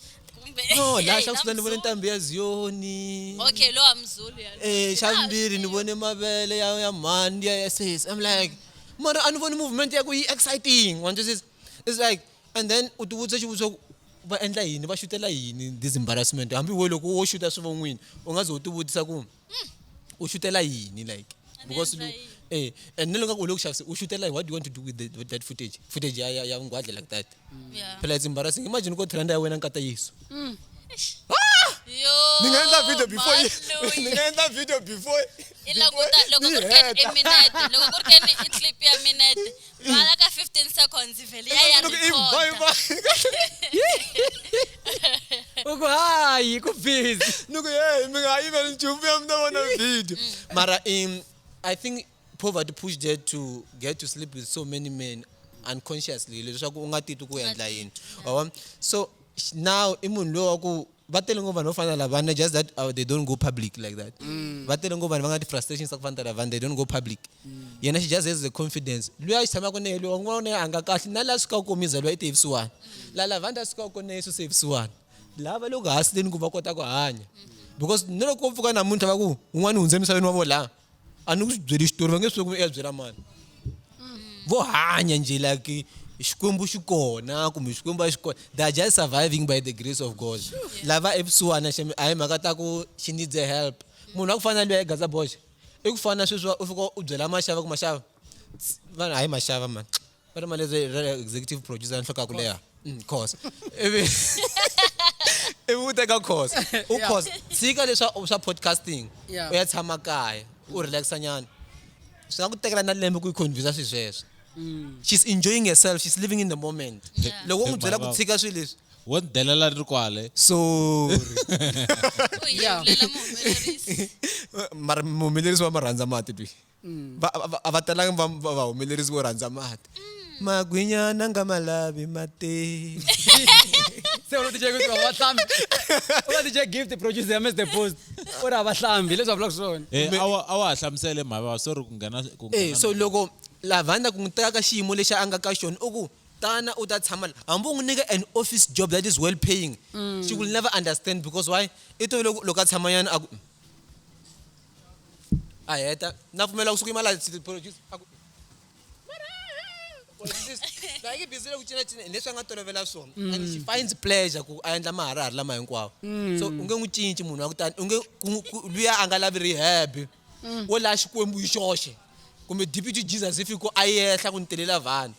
[SPEAKER 3] no
[SPEAKER 2] la xa kusuta ni vone ntambi ya ziyoni okay lo wa
[SPEAKER 3] mzulu ya eh xa mbiri ni vone
[SPEAKER 2] mavele ya ya mhani ya ss i'm like mara a ni voni movement ya ku yi exciting wanjisisa it's like and then u tivutisa xivutiso ku va endla yini va xutela yini this embarrassment hambi we loko wo xuta swivon'wini u nga ze u tivutisa ku hmm, u xutela yini like because eh and nelo ngaku ulokhu xavise usho ukuthi like what do you want to do with, the, with that footage footage ya ya ngwadle like that mm. yeah. phela it's embarrassing
[SPEAKER 3] imagine
[SPEAKER 2] ko trend ya wena nkata yesu mm.
[SPEAKER 3] ah! ni nga endla
[SPEAKER 2] video before ni nga endla video before i lakuta loko ku ri
[SPEAKER 3] keni i minete loko ku ri keni i clip ya minete vala ka 15 seconds vele ya ya Loko i record. bye bye.
[SPEAKER 1] uku hayi ku busy Nuku hey, mi nga
[SPEAKER 2] even nchumu ya mina vona video. Mara um, I think poverty pushed her to get to sleep with so many men unconsciously leswaku u nga titwi ku endla yini. Wa vona? So sh- now i munhu loyi wa ku va tele ngopfu vanhu vo fana na lavana just that uh, they don't go public like that mm. va tele ngopfu vanhu va nga ti-frustrations ta ku fana ta lavana they don't go public mm. yena she just has the confidence luya a xi tshamaka na ye luya un'wana na ye a nga kahle na laha sukaka komiza luya i te vusiwana mm. la lavanda a sukaka kona na yesu se vusiwana lava loko hasileni ku va kota ku hanya because ni loko ko pfuka namuntlha va ku un'wana hundze emisaveni wa vo laha a ni ku swi byeli xitori va nge swi ku ya byela mani mm. vo hanya nje like xikwembu xi kona kumbe xikwembu a xi kona they are just surviving by the grace of god lava epsuwana xemi a hi mhaka ta ku she needs a help munhu a ku fana na loyi a yi gaza boxe i ku fana na sweswi u fika u byela maxava ku maxava vana hayi maxava mani va ri mali ra executive producer nhloko ya ku leha mm, khosa ivi ivi u teka khosa u khosa tshika leswa swa podcasting u ya tshama kaya u relaxa nyana swi nga ku tekela na lembe ku yi convinsa swilo sweswo mm. she's enjoying herself she's living in the moment loko u n'wi byela ku tshika swilo leswi wo ni delela ri
[SPEAKER 5] kwale
[SPEAKER 2] sorry mara muhumelerisi wa ma rhandza mati twi mm. va a va talanga va va va humelerisi vo rhandza mati mm. magwinyana nga ma lavi mati
[SPEAKER 1] se u tije kuti va hlambi u tije gift producer ya Mr Post u ra va hlambi leswi va vulaka swona eh a wa a wa hlamusele
[SPEAKER 5] mhava wa sorry ku nghena ku nghena eh so loko
[SPEAKER 2] lavanda ku n'wi ka xiyimo lexi a nga ka xona u ku tana u ta tshama la hambi u n'wi nyika an office job that is well paying mm. she will never understand because why i to loko a tshamanyana a ku a heta na pfumela kusuka imali produce aku like bizile ku cina cina leswi a nga tolovela swona mm. and she finds pleasure ku a endla maharahari lama hinkwawo mm. so u nge n'wi cinci munhu wa kutani u nge luya a nga lavi rehab mm. wo laha xikwembu hi xoxe kumbe deputy jesus if ku a yehla ku ni telela vanhu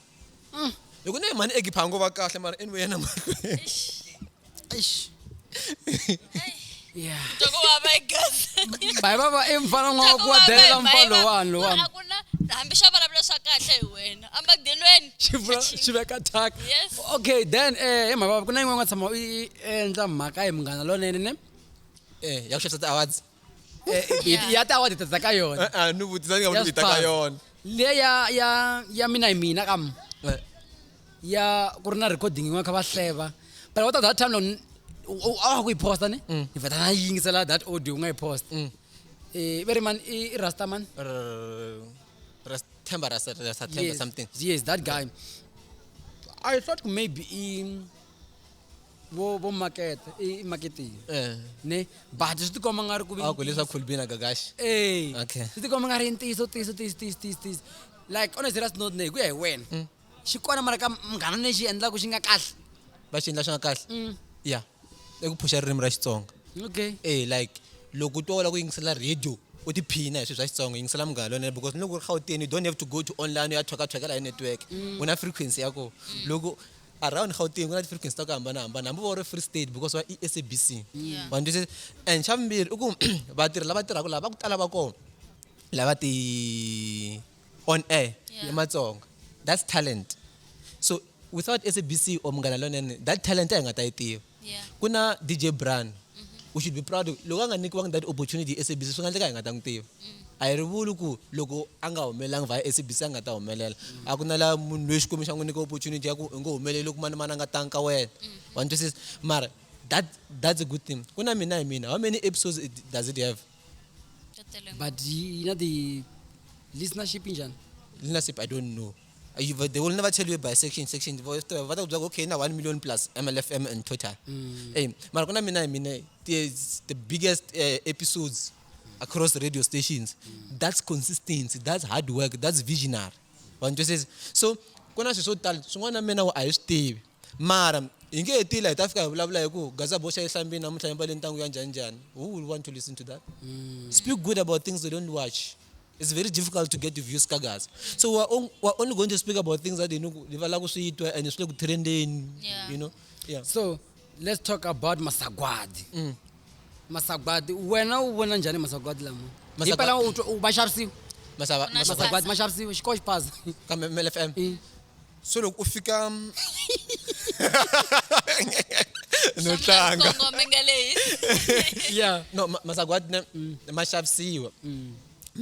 [SPEAKER 2] mm. hi ku ne mhani egipha ngo va kahle mara anyway yena mahlweni
[SPEAKER 3] bayi va va
[SPEAKER 1] emfana n'wa wa ku wa delela mfa lowani lowani hambi xa
[SPEAKER 3] vulavula swa kahle hi wena amagdelweni xi veka
[SPEAKER 1] tak okay
[SPEAKER 3] then um eh,
[SPEAKER 1] hi mhaka ku na yin'wana nga tshama u endla mhaka hi munghana lonene ne um eh,
[SPEAKER 2] ya ku xavisa ti-awards Eh, eh, Yeah. ya
[SPEAKER 1] ta award tsa ka yona Eh, eh, ni vutisa ni nga Ya vutisa ka Spar.
[SPEAKER 2] yona le ya ya
[SPEAKER 1] ya mina hi mina kam Eh, ya ku ri na recording yin'wana kha va hleva but what that time lon a ku yi posta ne Mm. ni vheta na yi yingisela that audio u nga yi post um very man i i rasta man r- Ras-
[SPEAKER 2] Themba Ras- Ras- Themba yes, something yes that
[SPEAKER 1] guy i thought maybe i vo vo makete i i maketiwa Eh. ne but swi tikomba nga ri ku vi a ku leswa cool bina
[SPEAKER 2] gagashi Eh, Okay. swi tikomba nga ri ntiyiso
[SPEAKER 1] tiyiso tiyiso tiyiso tiyiso tiyiso like on a serious note ne hi ku ya hi wena Mm. xi kona mara ka munghana ne xi endlaku xi nga kahle va xi endla swi nga
[SPEAKER 2] kahle Mm, ya i ku phuxa ririmi ra xitsonga okay e
[SPEAKER 1] like
[SPEAKER 2] loko u twa u lava ku yingisela radio u tiphina hi swilo swa xitsonga yingisela munghana lonene because loko u ri gauteni you don't have to go to online u ya thwakathwakela hi network u na frequency ya kona loko around gauteng ku na ti-frequency ta ku hambanahambana hambi vo ri free state because wa esabc Yeah. wa ndzi and xa vumbirhi i ku vatirhi lava tirhaka lava va ku tala va kona lava ti on air Yeah. ematsonga that's talent so without sabc or munghana lonene that talent a hi nga ta yi tiva Yeah. ku na dj bran mm -hmm. u should be proud loko a nga nyikiwangi that opportunity hi sabc swi nga endleka hi nga ta n'wi tiva mm. a hi ri vuli ku loko a nga humelelangi vhaya sabc a nga ta humelela mm. a ku na laha munhu loyi xikwembu xa n'wi nyika opportunity ya ku u nge humeleli loko mani mani a nga tangi ka wena mm. wa ni twisisa mara that that's a good thing ku na mina hi mina how many episodes it, does it have
[SPEAKER 1] but yi na ti listenership njhani listenership i don't
[SPEAKER 2] know You will, they will never tell you by section section va swi tiva va ta ku byela ku okay na 1 million plus mlfm in total ey mara ku na mina hi mina ti- it's the biggest eh, episodes across the radio stations that's consistency that's hard work that's visionary vanhu twisisa so ku na swilo swo tala swin'wana na mina wa a hi swi tivi Mara, hi nge he tila hi ta fika hi vulavula hi ku gaza boxa yi hlambini namuntlha yi mbale ntangu ya njhani njhani. Who will want to listen to that? Mm. Speak good about things they don't watch. It's very difficult to get views ka gaza. So we're, on, we're only going to speak about things that you know, va lava ku swi twa and swi le ku trendeni, yeah. you know. Yeah. So let's
[SPEAKER 1] talk about masagwadi. Mm. masagwadi wena u vona njhani masagwadi lama Masagwa- himpela u twa- u- ma xavisiwa masava Ku na masava masagwadi ma xavisiwa xikoho xi phasa kambe mlfm Eh.
[SPEAKER 2] so loko u fika no tlanga kongome nga leyi ya
[SPEAKER 1] no ma- masagwadi
[SPEAKER 2] ne ma xavisiwa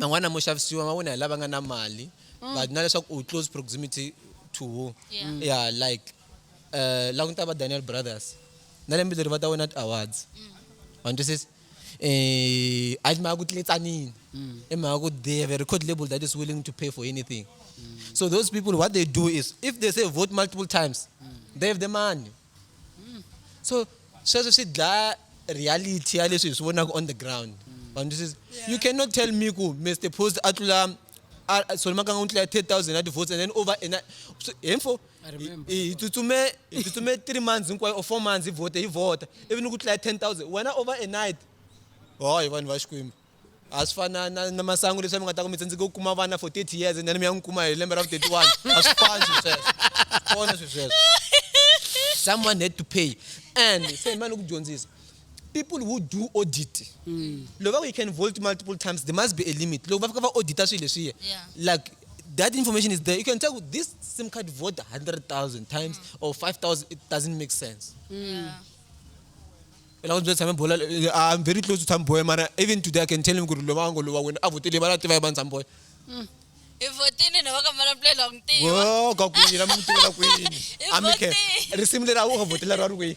[SPEAKER 2] man'wana mo xavisiwa ma wona hi lava nga na mali but na leswaku u close proximity to who Yeah. yeah like uh, la ku ni ta va daniel brothers na lembe leri va ta wina ti-awards ma ni twisisa um a yi mhaka ku tletsanini i mhaka ku they have a record label that is willing to pay for anything so those people what they do is if they say vote multiple times they have the money so sweswo swi dlaya reality ya leswi hi swi vonaka on the ground ma ni twisisa you cannot tell me ku mr post a tlula solomakanga u tlula 3000 ya ti-votes and then over ena hinfo so, I remember. I- hi tsutsume hi tsutsume three months hinkwayo or four months hi vote hi vota ivi ni ku tlula ten thousand wena over a night hoyo vanhu va xikwembu a swi fana na, na masangu leswi mi nga ta ku mi tsandzeke ku kuma vana for 30 years and then mi ya n'wi kuma hi lembe ra vu 31 a swi fani swi sweswo swona swi sweswo someone had to pay and se mani ku dyondzisa people who do audit loko va ku you can vote multiple times there must be a limit loko va fika va audita swilo leswiya Yeah. like that information is there. You can tell with this SIM card vote 100,000 times mm. or 5,000. It doesn't make sense. Mm. Yeah. I'm very close to Tamboy, man. Even today, I can tell him, Guru Lomango, Lua, when I would tell him, I'm not Tamboy. Mm. ivotini na vakamalapulela
[SPEAKER 3] ku ntiwa ka kwini na
[SPEAKER 2] mutiwa na kwini amike risimu leri a
[SPEAKER 3] wu nga votela
[SPEAKER 2] ra ri kwini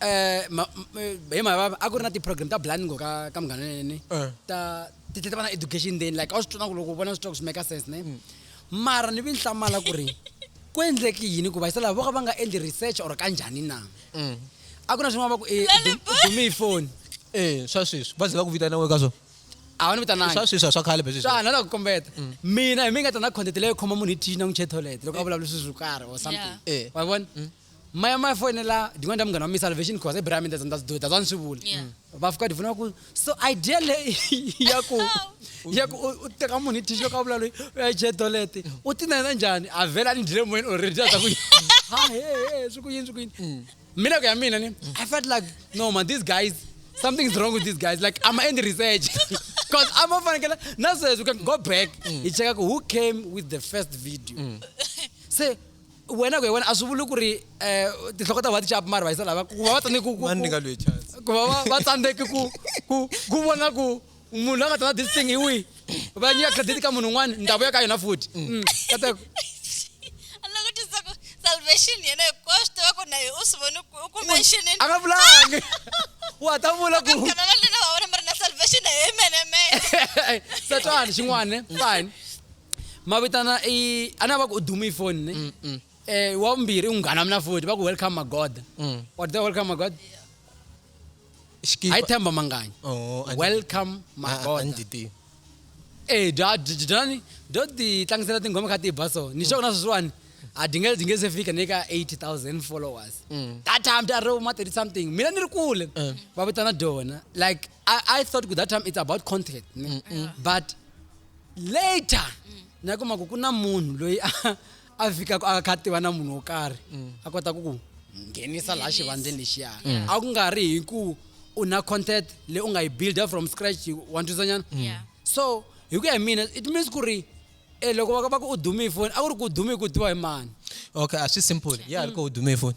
[SPEAKER 1] Eh, ma- m- eh, hi mhaka va- a ku ri na ti-program ta blind ngo ka ka munghana nene Eh. ta ti tlhe ti va na education then like a wu swi twana ku loko u vona swi twa ku swi maker sense ne mara ni vi ni hlamala ku ri ku endleki yini ku va yisa lava vo ka va nga endli research or ka njhani na Mm. a ku na swin'wana va ku eh, u dum- u dume hi foni Eh, swa sweswi
[SPEAKER 2] va ze va ku vitana we ka swona a va ni vitanangi
[SPEAKER 1] swa sweswi a swa khale beswi swa
[SPEAKER 2] na la ku kombeta
[SPEAKER 1] mina hi mi nga ta na content leyo khoma munhu hi thini na n'wi che toilet loko a vulavula swilo swo karhi or something Yeah. Eh. wa vona maya maya foyinela ndin'wana ta munghana wa mi salvation cause i brami ndza ndza ndza ni swi vula Yeah. va fika ndivona
[SPEAKER 3] ku
[SPEAKER 1] so idea leyi ya ku ya ku u- u teka munhu hi tixo ka vula loyi u ya jedolete u ti nayina njhani a vhela a ni dyile moyeni already a ta ku ha he he swi ku yini swi ku yini mina ku ya mina ni i felt like no man these guys something is wrong with these guys like i'm ending research because i'm fanekele na sweswi we can go back hi cheka ku who came with the first video se wena ku hi wena a swi vuli ku ri um tinhloko ta va ti capi mari vayisa lava ku va va tsandzeki ku
[SPEAKER 2] va va tsandzeki
[SPEAKER 1] ku ku ku vona ku munhu la nga ta na this thing hi wihi va nyika credit ka munhu un'wana ndhawu ya ka yona futhi mm. kateko
[SPEAKER 3] salvation yena hikwaswo swi tiva ku na hi u swi voni u ku mentionini a nga vulangi
[SPEAKER 1] wa ta vula ku kanana lena va vona mi ri
[SPEAKER 3] na salvation hi mene mene satani
[SPEAKER 1] xin'wana fine mavitana i a na va ku u dume ifoni ne mm, mm. eh wa vumbirhi i munghana wa mina futhi va ku welcome magoda mm. or the welcome magoda ayithemba manganya oh, welcome magoda
[SPEAKER 2] e bya dyani
[SPEAKER 1] byo ti tlangisela tinghoma kha ti ba so ni xona sweswiwani a dzi nge dzi nge se fika ni ka 8000 followers mm. that time bya ri uma 30 something mina ni ri kule eh. va vitana dona like I, I thought ku that time it's about contract ne? but later na kuma ku ku na munhu loyi a- a fikaka a kha a tiva na munhu wo karhi a kota ku ku nghenisa laha xivandleni lexiya a ku nga ri hi ku u na content leyi u nga yi builda from scratch wa ntwisanyana Yeah. so hi ku ya hi mina it means ku ri eh, loko va va ku u dume hi foni a ku ri ku u dume hi ku u tiva hi mani okay a swi
[SPEAKER 2] simple ya ri ko u dume hi foni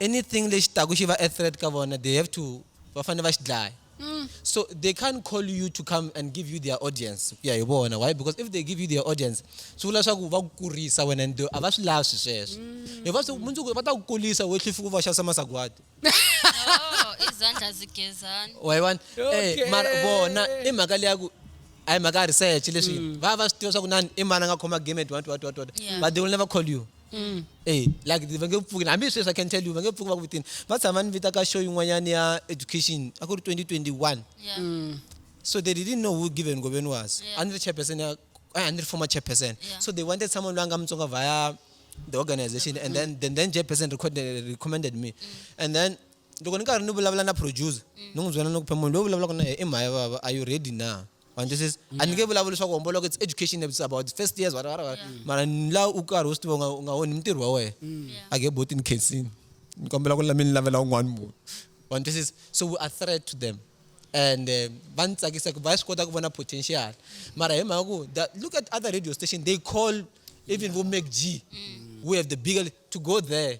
[SPEAKER 1] anything lexi
[SPEAKER 2] taku xi va a threat ka vona they have to va fanele va xi dlaya mm. so they can't call you to come and give you their audience ku ya hi vona why because if they give you their audience swi vula swa ku va ku kurisa wena and a va swi lavi swi sweswo mm. hi va mundzuku va ta ku kulisa we tlhifi ku va xavisa masagwadi
[SPEAKER 3] oh, izandla zigezana wayiwani eh,
[SPEAKER 2] mara vona i mhaka leya ku a hi mhaka ya research leswi mm. va va swi tiva swa ku nani i mani a nga khoma game at what what what what but they will never call you Mm. Hey, like va nge pfuki hambi sweswi i can tell you va nge pfuki va ku vitini va tshama ni vita ka show yin'wanyana ya education a ku ri 2021 yeah. mm. so they didn't know who given ngobeni was yeah. a ni ri chairperson ya a ni ri former chairperson yeah. so they wanted someone loyi a nga mutsonga via the organization and then then, then chairperson recorded, recommended me mm. and then loko ni karhi ni vulavula na producer mm. ni n'wi byela ni ku phe munhu loyi vulavulaka na yena i mhaya vava are you ready na wa ni twisisa a ni nge vulavuli swa ku homboloka it's education it's about the first years whatever, whatever. Yeah. mara ni la u karhi u swi tiva u nga- u nga woni mintirho wa wena Mm. Yeah. a nge boti ni khensini ni kombela ku la mi ni lavela un'wana munhu wa ni twisisa so we are threat to them and eh, va ni tsakisa ku va swi kota ku vona potential mara hi mhaka ku the- look at other radio station they call even vo make g we have the bigger to go there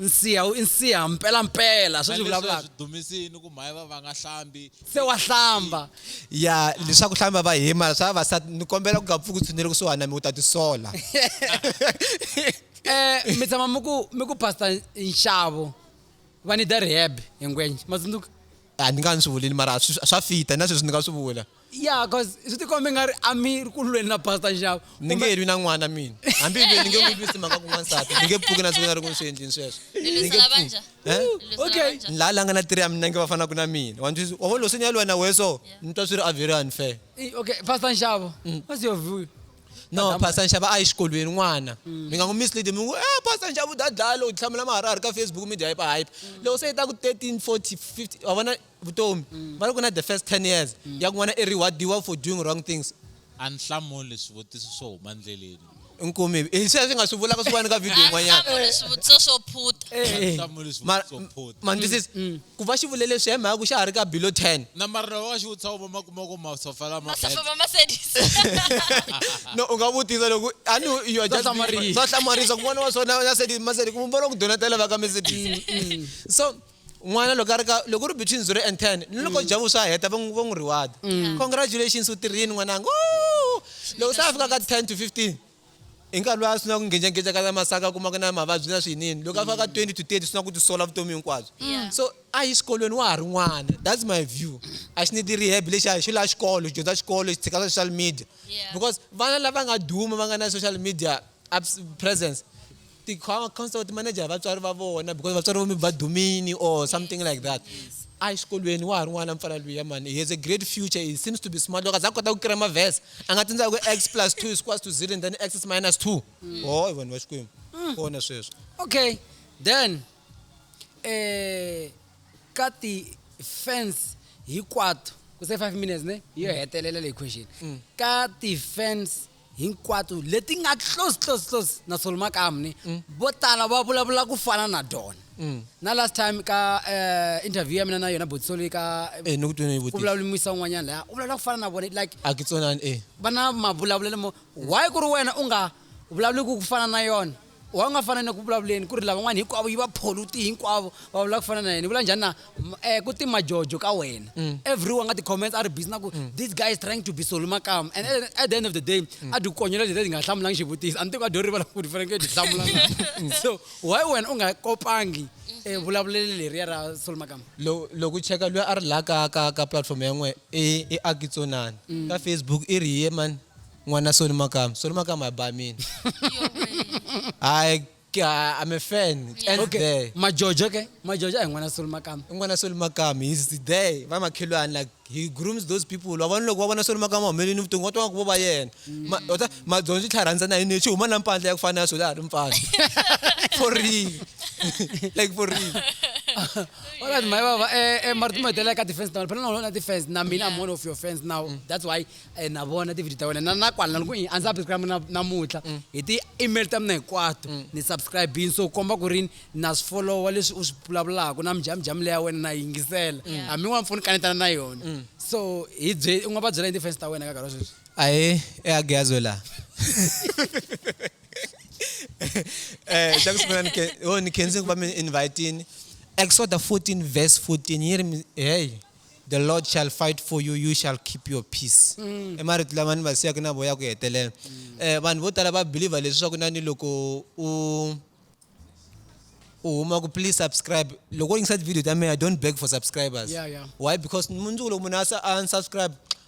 [SPEAKER 1] nsiha wu i nsiha mpelampela sweswi vulavulaka dumisini ku mhaye
[SPEAKER 5] va va nga hlambi se wa hlamba
[SPEAKER 1] ya
[SPEAKER 2] leswaku hlamba va hima swa vavasati ni kombela ku nga pfuki u tshunele kusuhani na mi u ta tisola
[SPEAKER 1] um mi tshama mi ku mi ku pastor nxavo va nida rehab hi ngwenye ma tsundzuka A ni nga ni swi
[SPEAKER 2] vulini mara swi swa fita na sweswi ni nga swi vula. Yeah cause
[SPEAKER 1] swi ti kombe nga ri a mi ri ku lweni na pastor nxavo. Ni nge lwi na n'wana
[SPEAKER 2] mina. Hambi hi lwile ni nge n'wi lwisi mhaka ku n'wansati. Ni nge pfuki na siku ni nga ri ku ni swi endleni sweswo. Ni Ni nge lwisana va pfuki. njhani? Ni Huh? lwisana Okay.
[SPEAKER 1] va njhani? La la nga na tiri ya mina
[SPEAKER 2] nge va fanaka na mina. Wa ni twisisa? Wa vona loko se ni ya lwa na wehe so ni twa swi ri a very unfair. I- Okay pastor
[SPEAKER 1] nxavo what's your view? no pastor
[SPEAKER 2] nxava a yi xikolweni n'wana mm. mi nga n'wi mislead mi n'wi eh pastor nxava u dya dlaya loko hlamula maharihari ka facebook media hype hype mm. loko se yi ta ku 13 40 50 wa vona vutomi mm. va ri ku na the first 10 years ya ku n'wana i rewardiwa for doing wrong things a ni hlamuli
[SPEAKER 5] swivutiso swo huma ndleleni inkomi hi eh,
[SPEAKER 2] sweswi nga swi vulaka swi vani ka video yin'wanyana swivutiso swo
[SPEAKER 3] phuta eh, eh.
[SPEAKER 5] ma ndzi Ku va xi
[SPEAKER 2] vule leswiya hi mhaka ku xa ha ri ka Bilo 10. Na marhole wa xiwutsa
[SPEAKER 5] wu va ma kuma ku masofa lama bad. Masofa ma Mercedes.
[SPEAKER 2] No, u nga vutisa loko a ni you are just being funny. Swa hlamarisa ku n'wana wa so na Mercedes, Mercedes ku vona ku donetela va ka Mercedes. So n'wana loko a ri ka loko u ri between 0 and 10 ni loko Jabu swa heta va n'wi reward-a. Congratulations u tirhini n'wananga, woo! Loko se a fika ka 10 to 15. Hi nkarhi lowu a swi na ku nghenjangenja ka la masaka a kumaka na mavabyi na swiyinini loko a fika ka 20 to 30 swi na ku tisola vutomi hinkwabyo Yeah. so a yi xikolweni wa ha ri n'wana that's my view a xi need rehab lexi a hi xo la xikolo xi dyondza xikolo xi tshika swa social media Yeah. because vana lava nga duma va nga na social media abs- presence Ti counselor ti manejara vatswari va vona because vatswari vo maybe va dumini or something like that. A hi xikolweni wa ha ri n'wana mfana luya mhani. He has a great future, he seems to be smart loko a za a kota ku kira maverse a nga tsundzuka ku X plus two is equals to zero and then X is minus two. Hoy vanhu va Xikwembu. Kona sweswo. Okay
[SPEAKER 1] then ka ti fans hinkwato ku se five minutes ne yo hetelela leyi question ka ti fans. hinkwato leti nga close close close na Solo Makamni mm. vo tala va vulavula ku fana na dona mm. na last time ka uh, interview ya mina na yona botsoli ka eh, no kutwe ku
[SPEAKER 2] vulavula muisa un'wanyana
[SPEAKER 1] laya u vulavula ku fana na vona like a ke tsonani eh
[SPEAKER 2] va na mavulavulelo
[SPEAKER 1] mo why ku ri wena u nga vulavuli ku ku fana na yona wa nga fana na ku vulavuleni ku ri lavan'wana hinkwavo yi va pholute hinkwavo va vula ku fana na yena vula njhani na um ku ti majojo ka wena mm. everyone nga ti-comments a ri busy na ku mm. this guy is trying to be solo makama and at the end of the day mm. a ti konyela leti ti nga hlamulangi xivutiso a ni tiko a dyo rivala ku ti fanekele ti hlamulanga so why wena u nga kopangi eh, vulavuleli leriya ra solo makama loko u cheka
[SPEAKER 2] loyi a ri laha ka ka ka platform ya n'we i akitsonani ka facebook i ri ye mani N'wana Soni Makama. Soni Makama a ba mina. Hayi ka- I'm a fan. It ends Okay. there. Majojo
[SPEAKER 1] ke? Majojo a hi n'wana Soni Makama. I n'wana Soni Makama.
[SPEAKER 2] He's there. Va makhelwani like he grooms those people. Wa vona loko va vona Soni Makama a humelele ni vutongo va twa nga ku vo va yena. Ma- u ta- Madyondza yi tlharhanisa na yini lexi huma na mpandla ya ku fana na swilo a ha ri mpandla. For real. Like for real.
[SPEAKER 1] Alright, my baba, eh, eh, mara timahetelela ka defense now. Phela na wena na defense na mina I'm one of your fans now. That's why e na vona tivhidiyo ta wena na na kwala na loko i a ni subscribe na namuntlha mm. hi ti-email ta mina hinkwato mm. ni subscribini so komba ku rini na swi folowa leswi u swi vulavulaka na mijhamijhamu leya wena na yingisela mm. hambi n'wana mpfuni kanetana na yona so hi bye u nga va byela hi ti-fans ta wena ka karhi wa sweswi ahee eageazwe
[SPEAKER 2] laha eh xa ku sungula ni oh, khense ku va mi invitini exoda 14 verse 14 yi ri hey the lord shall fight for you you shall keep your peace mm. i marito lama ni va siyaka na voya ku hetelela mm. eh, vanhu vo tala va believer leswaku na ni loko u u huma ku please subscribe loko u yingisa tivideo ta mehe i don't beg for subscribers yeah, yeah. why because mundzuku loko munhu a unsubscribe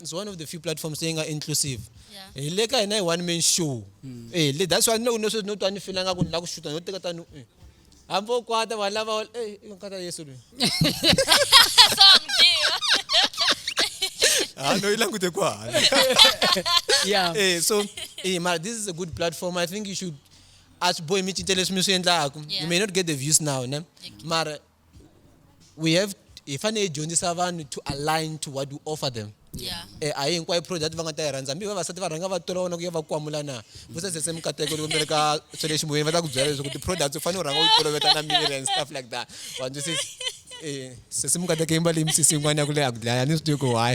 [SPEAKER 2] is one of the few platforms leyi nga inclusive yeah. hi le ka hina hi one man show mm. eh le that's why ni loko no sweswi no twa ni filanga ku ni lava ku xuta no teka tani eh. hambi u kwata vanhu lava eh, nkata yesu loyi ah, no, you language yeah. Hey, eh, so, hey, eh, this is a good platform. I think you should as boy mi cinca leswi mi swi endlaku you may not get the views now ne mara we have hi fanele hi dyondzisa vanhu to align to what we offer them Yeah. eh a hi hinkwayo product va nga ta yi rhandza hambi vavasati va rhanga va tola vona ku ya va kwamula na ku sasese mikateko loko mi ri ka swa le ximoyeni va ta ku byela leswaku ti-products u fanele u rhanga u toloveta na miri and stuff like that wa twisisa eh sesi mikateko yi mbale yi misisi yin'wana ya ku leha ku dlaya ni swi tivi ku why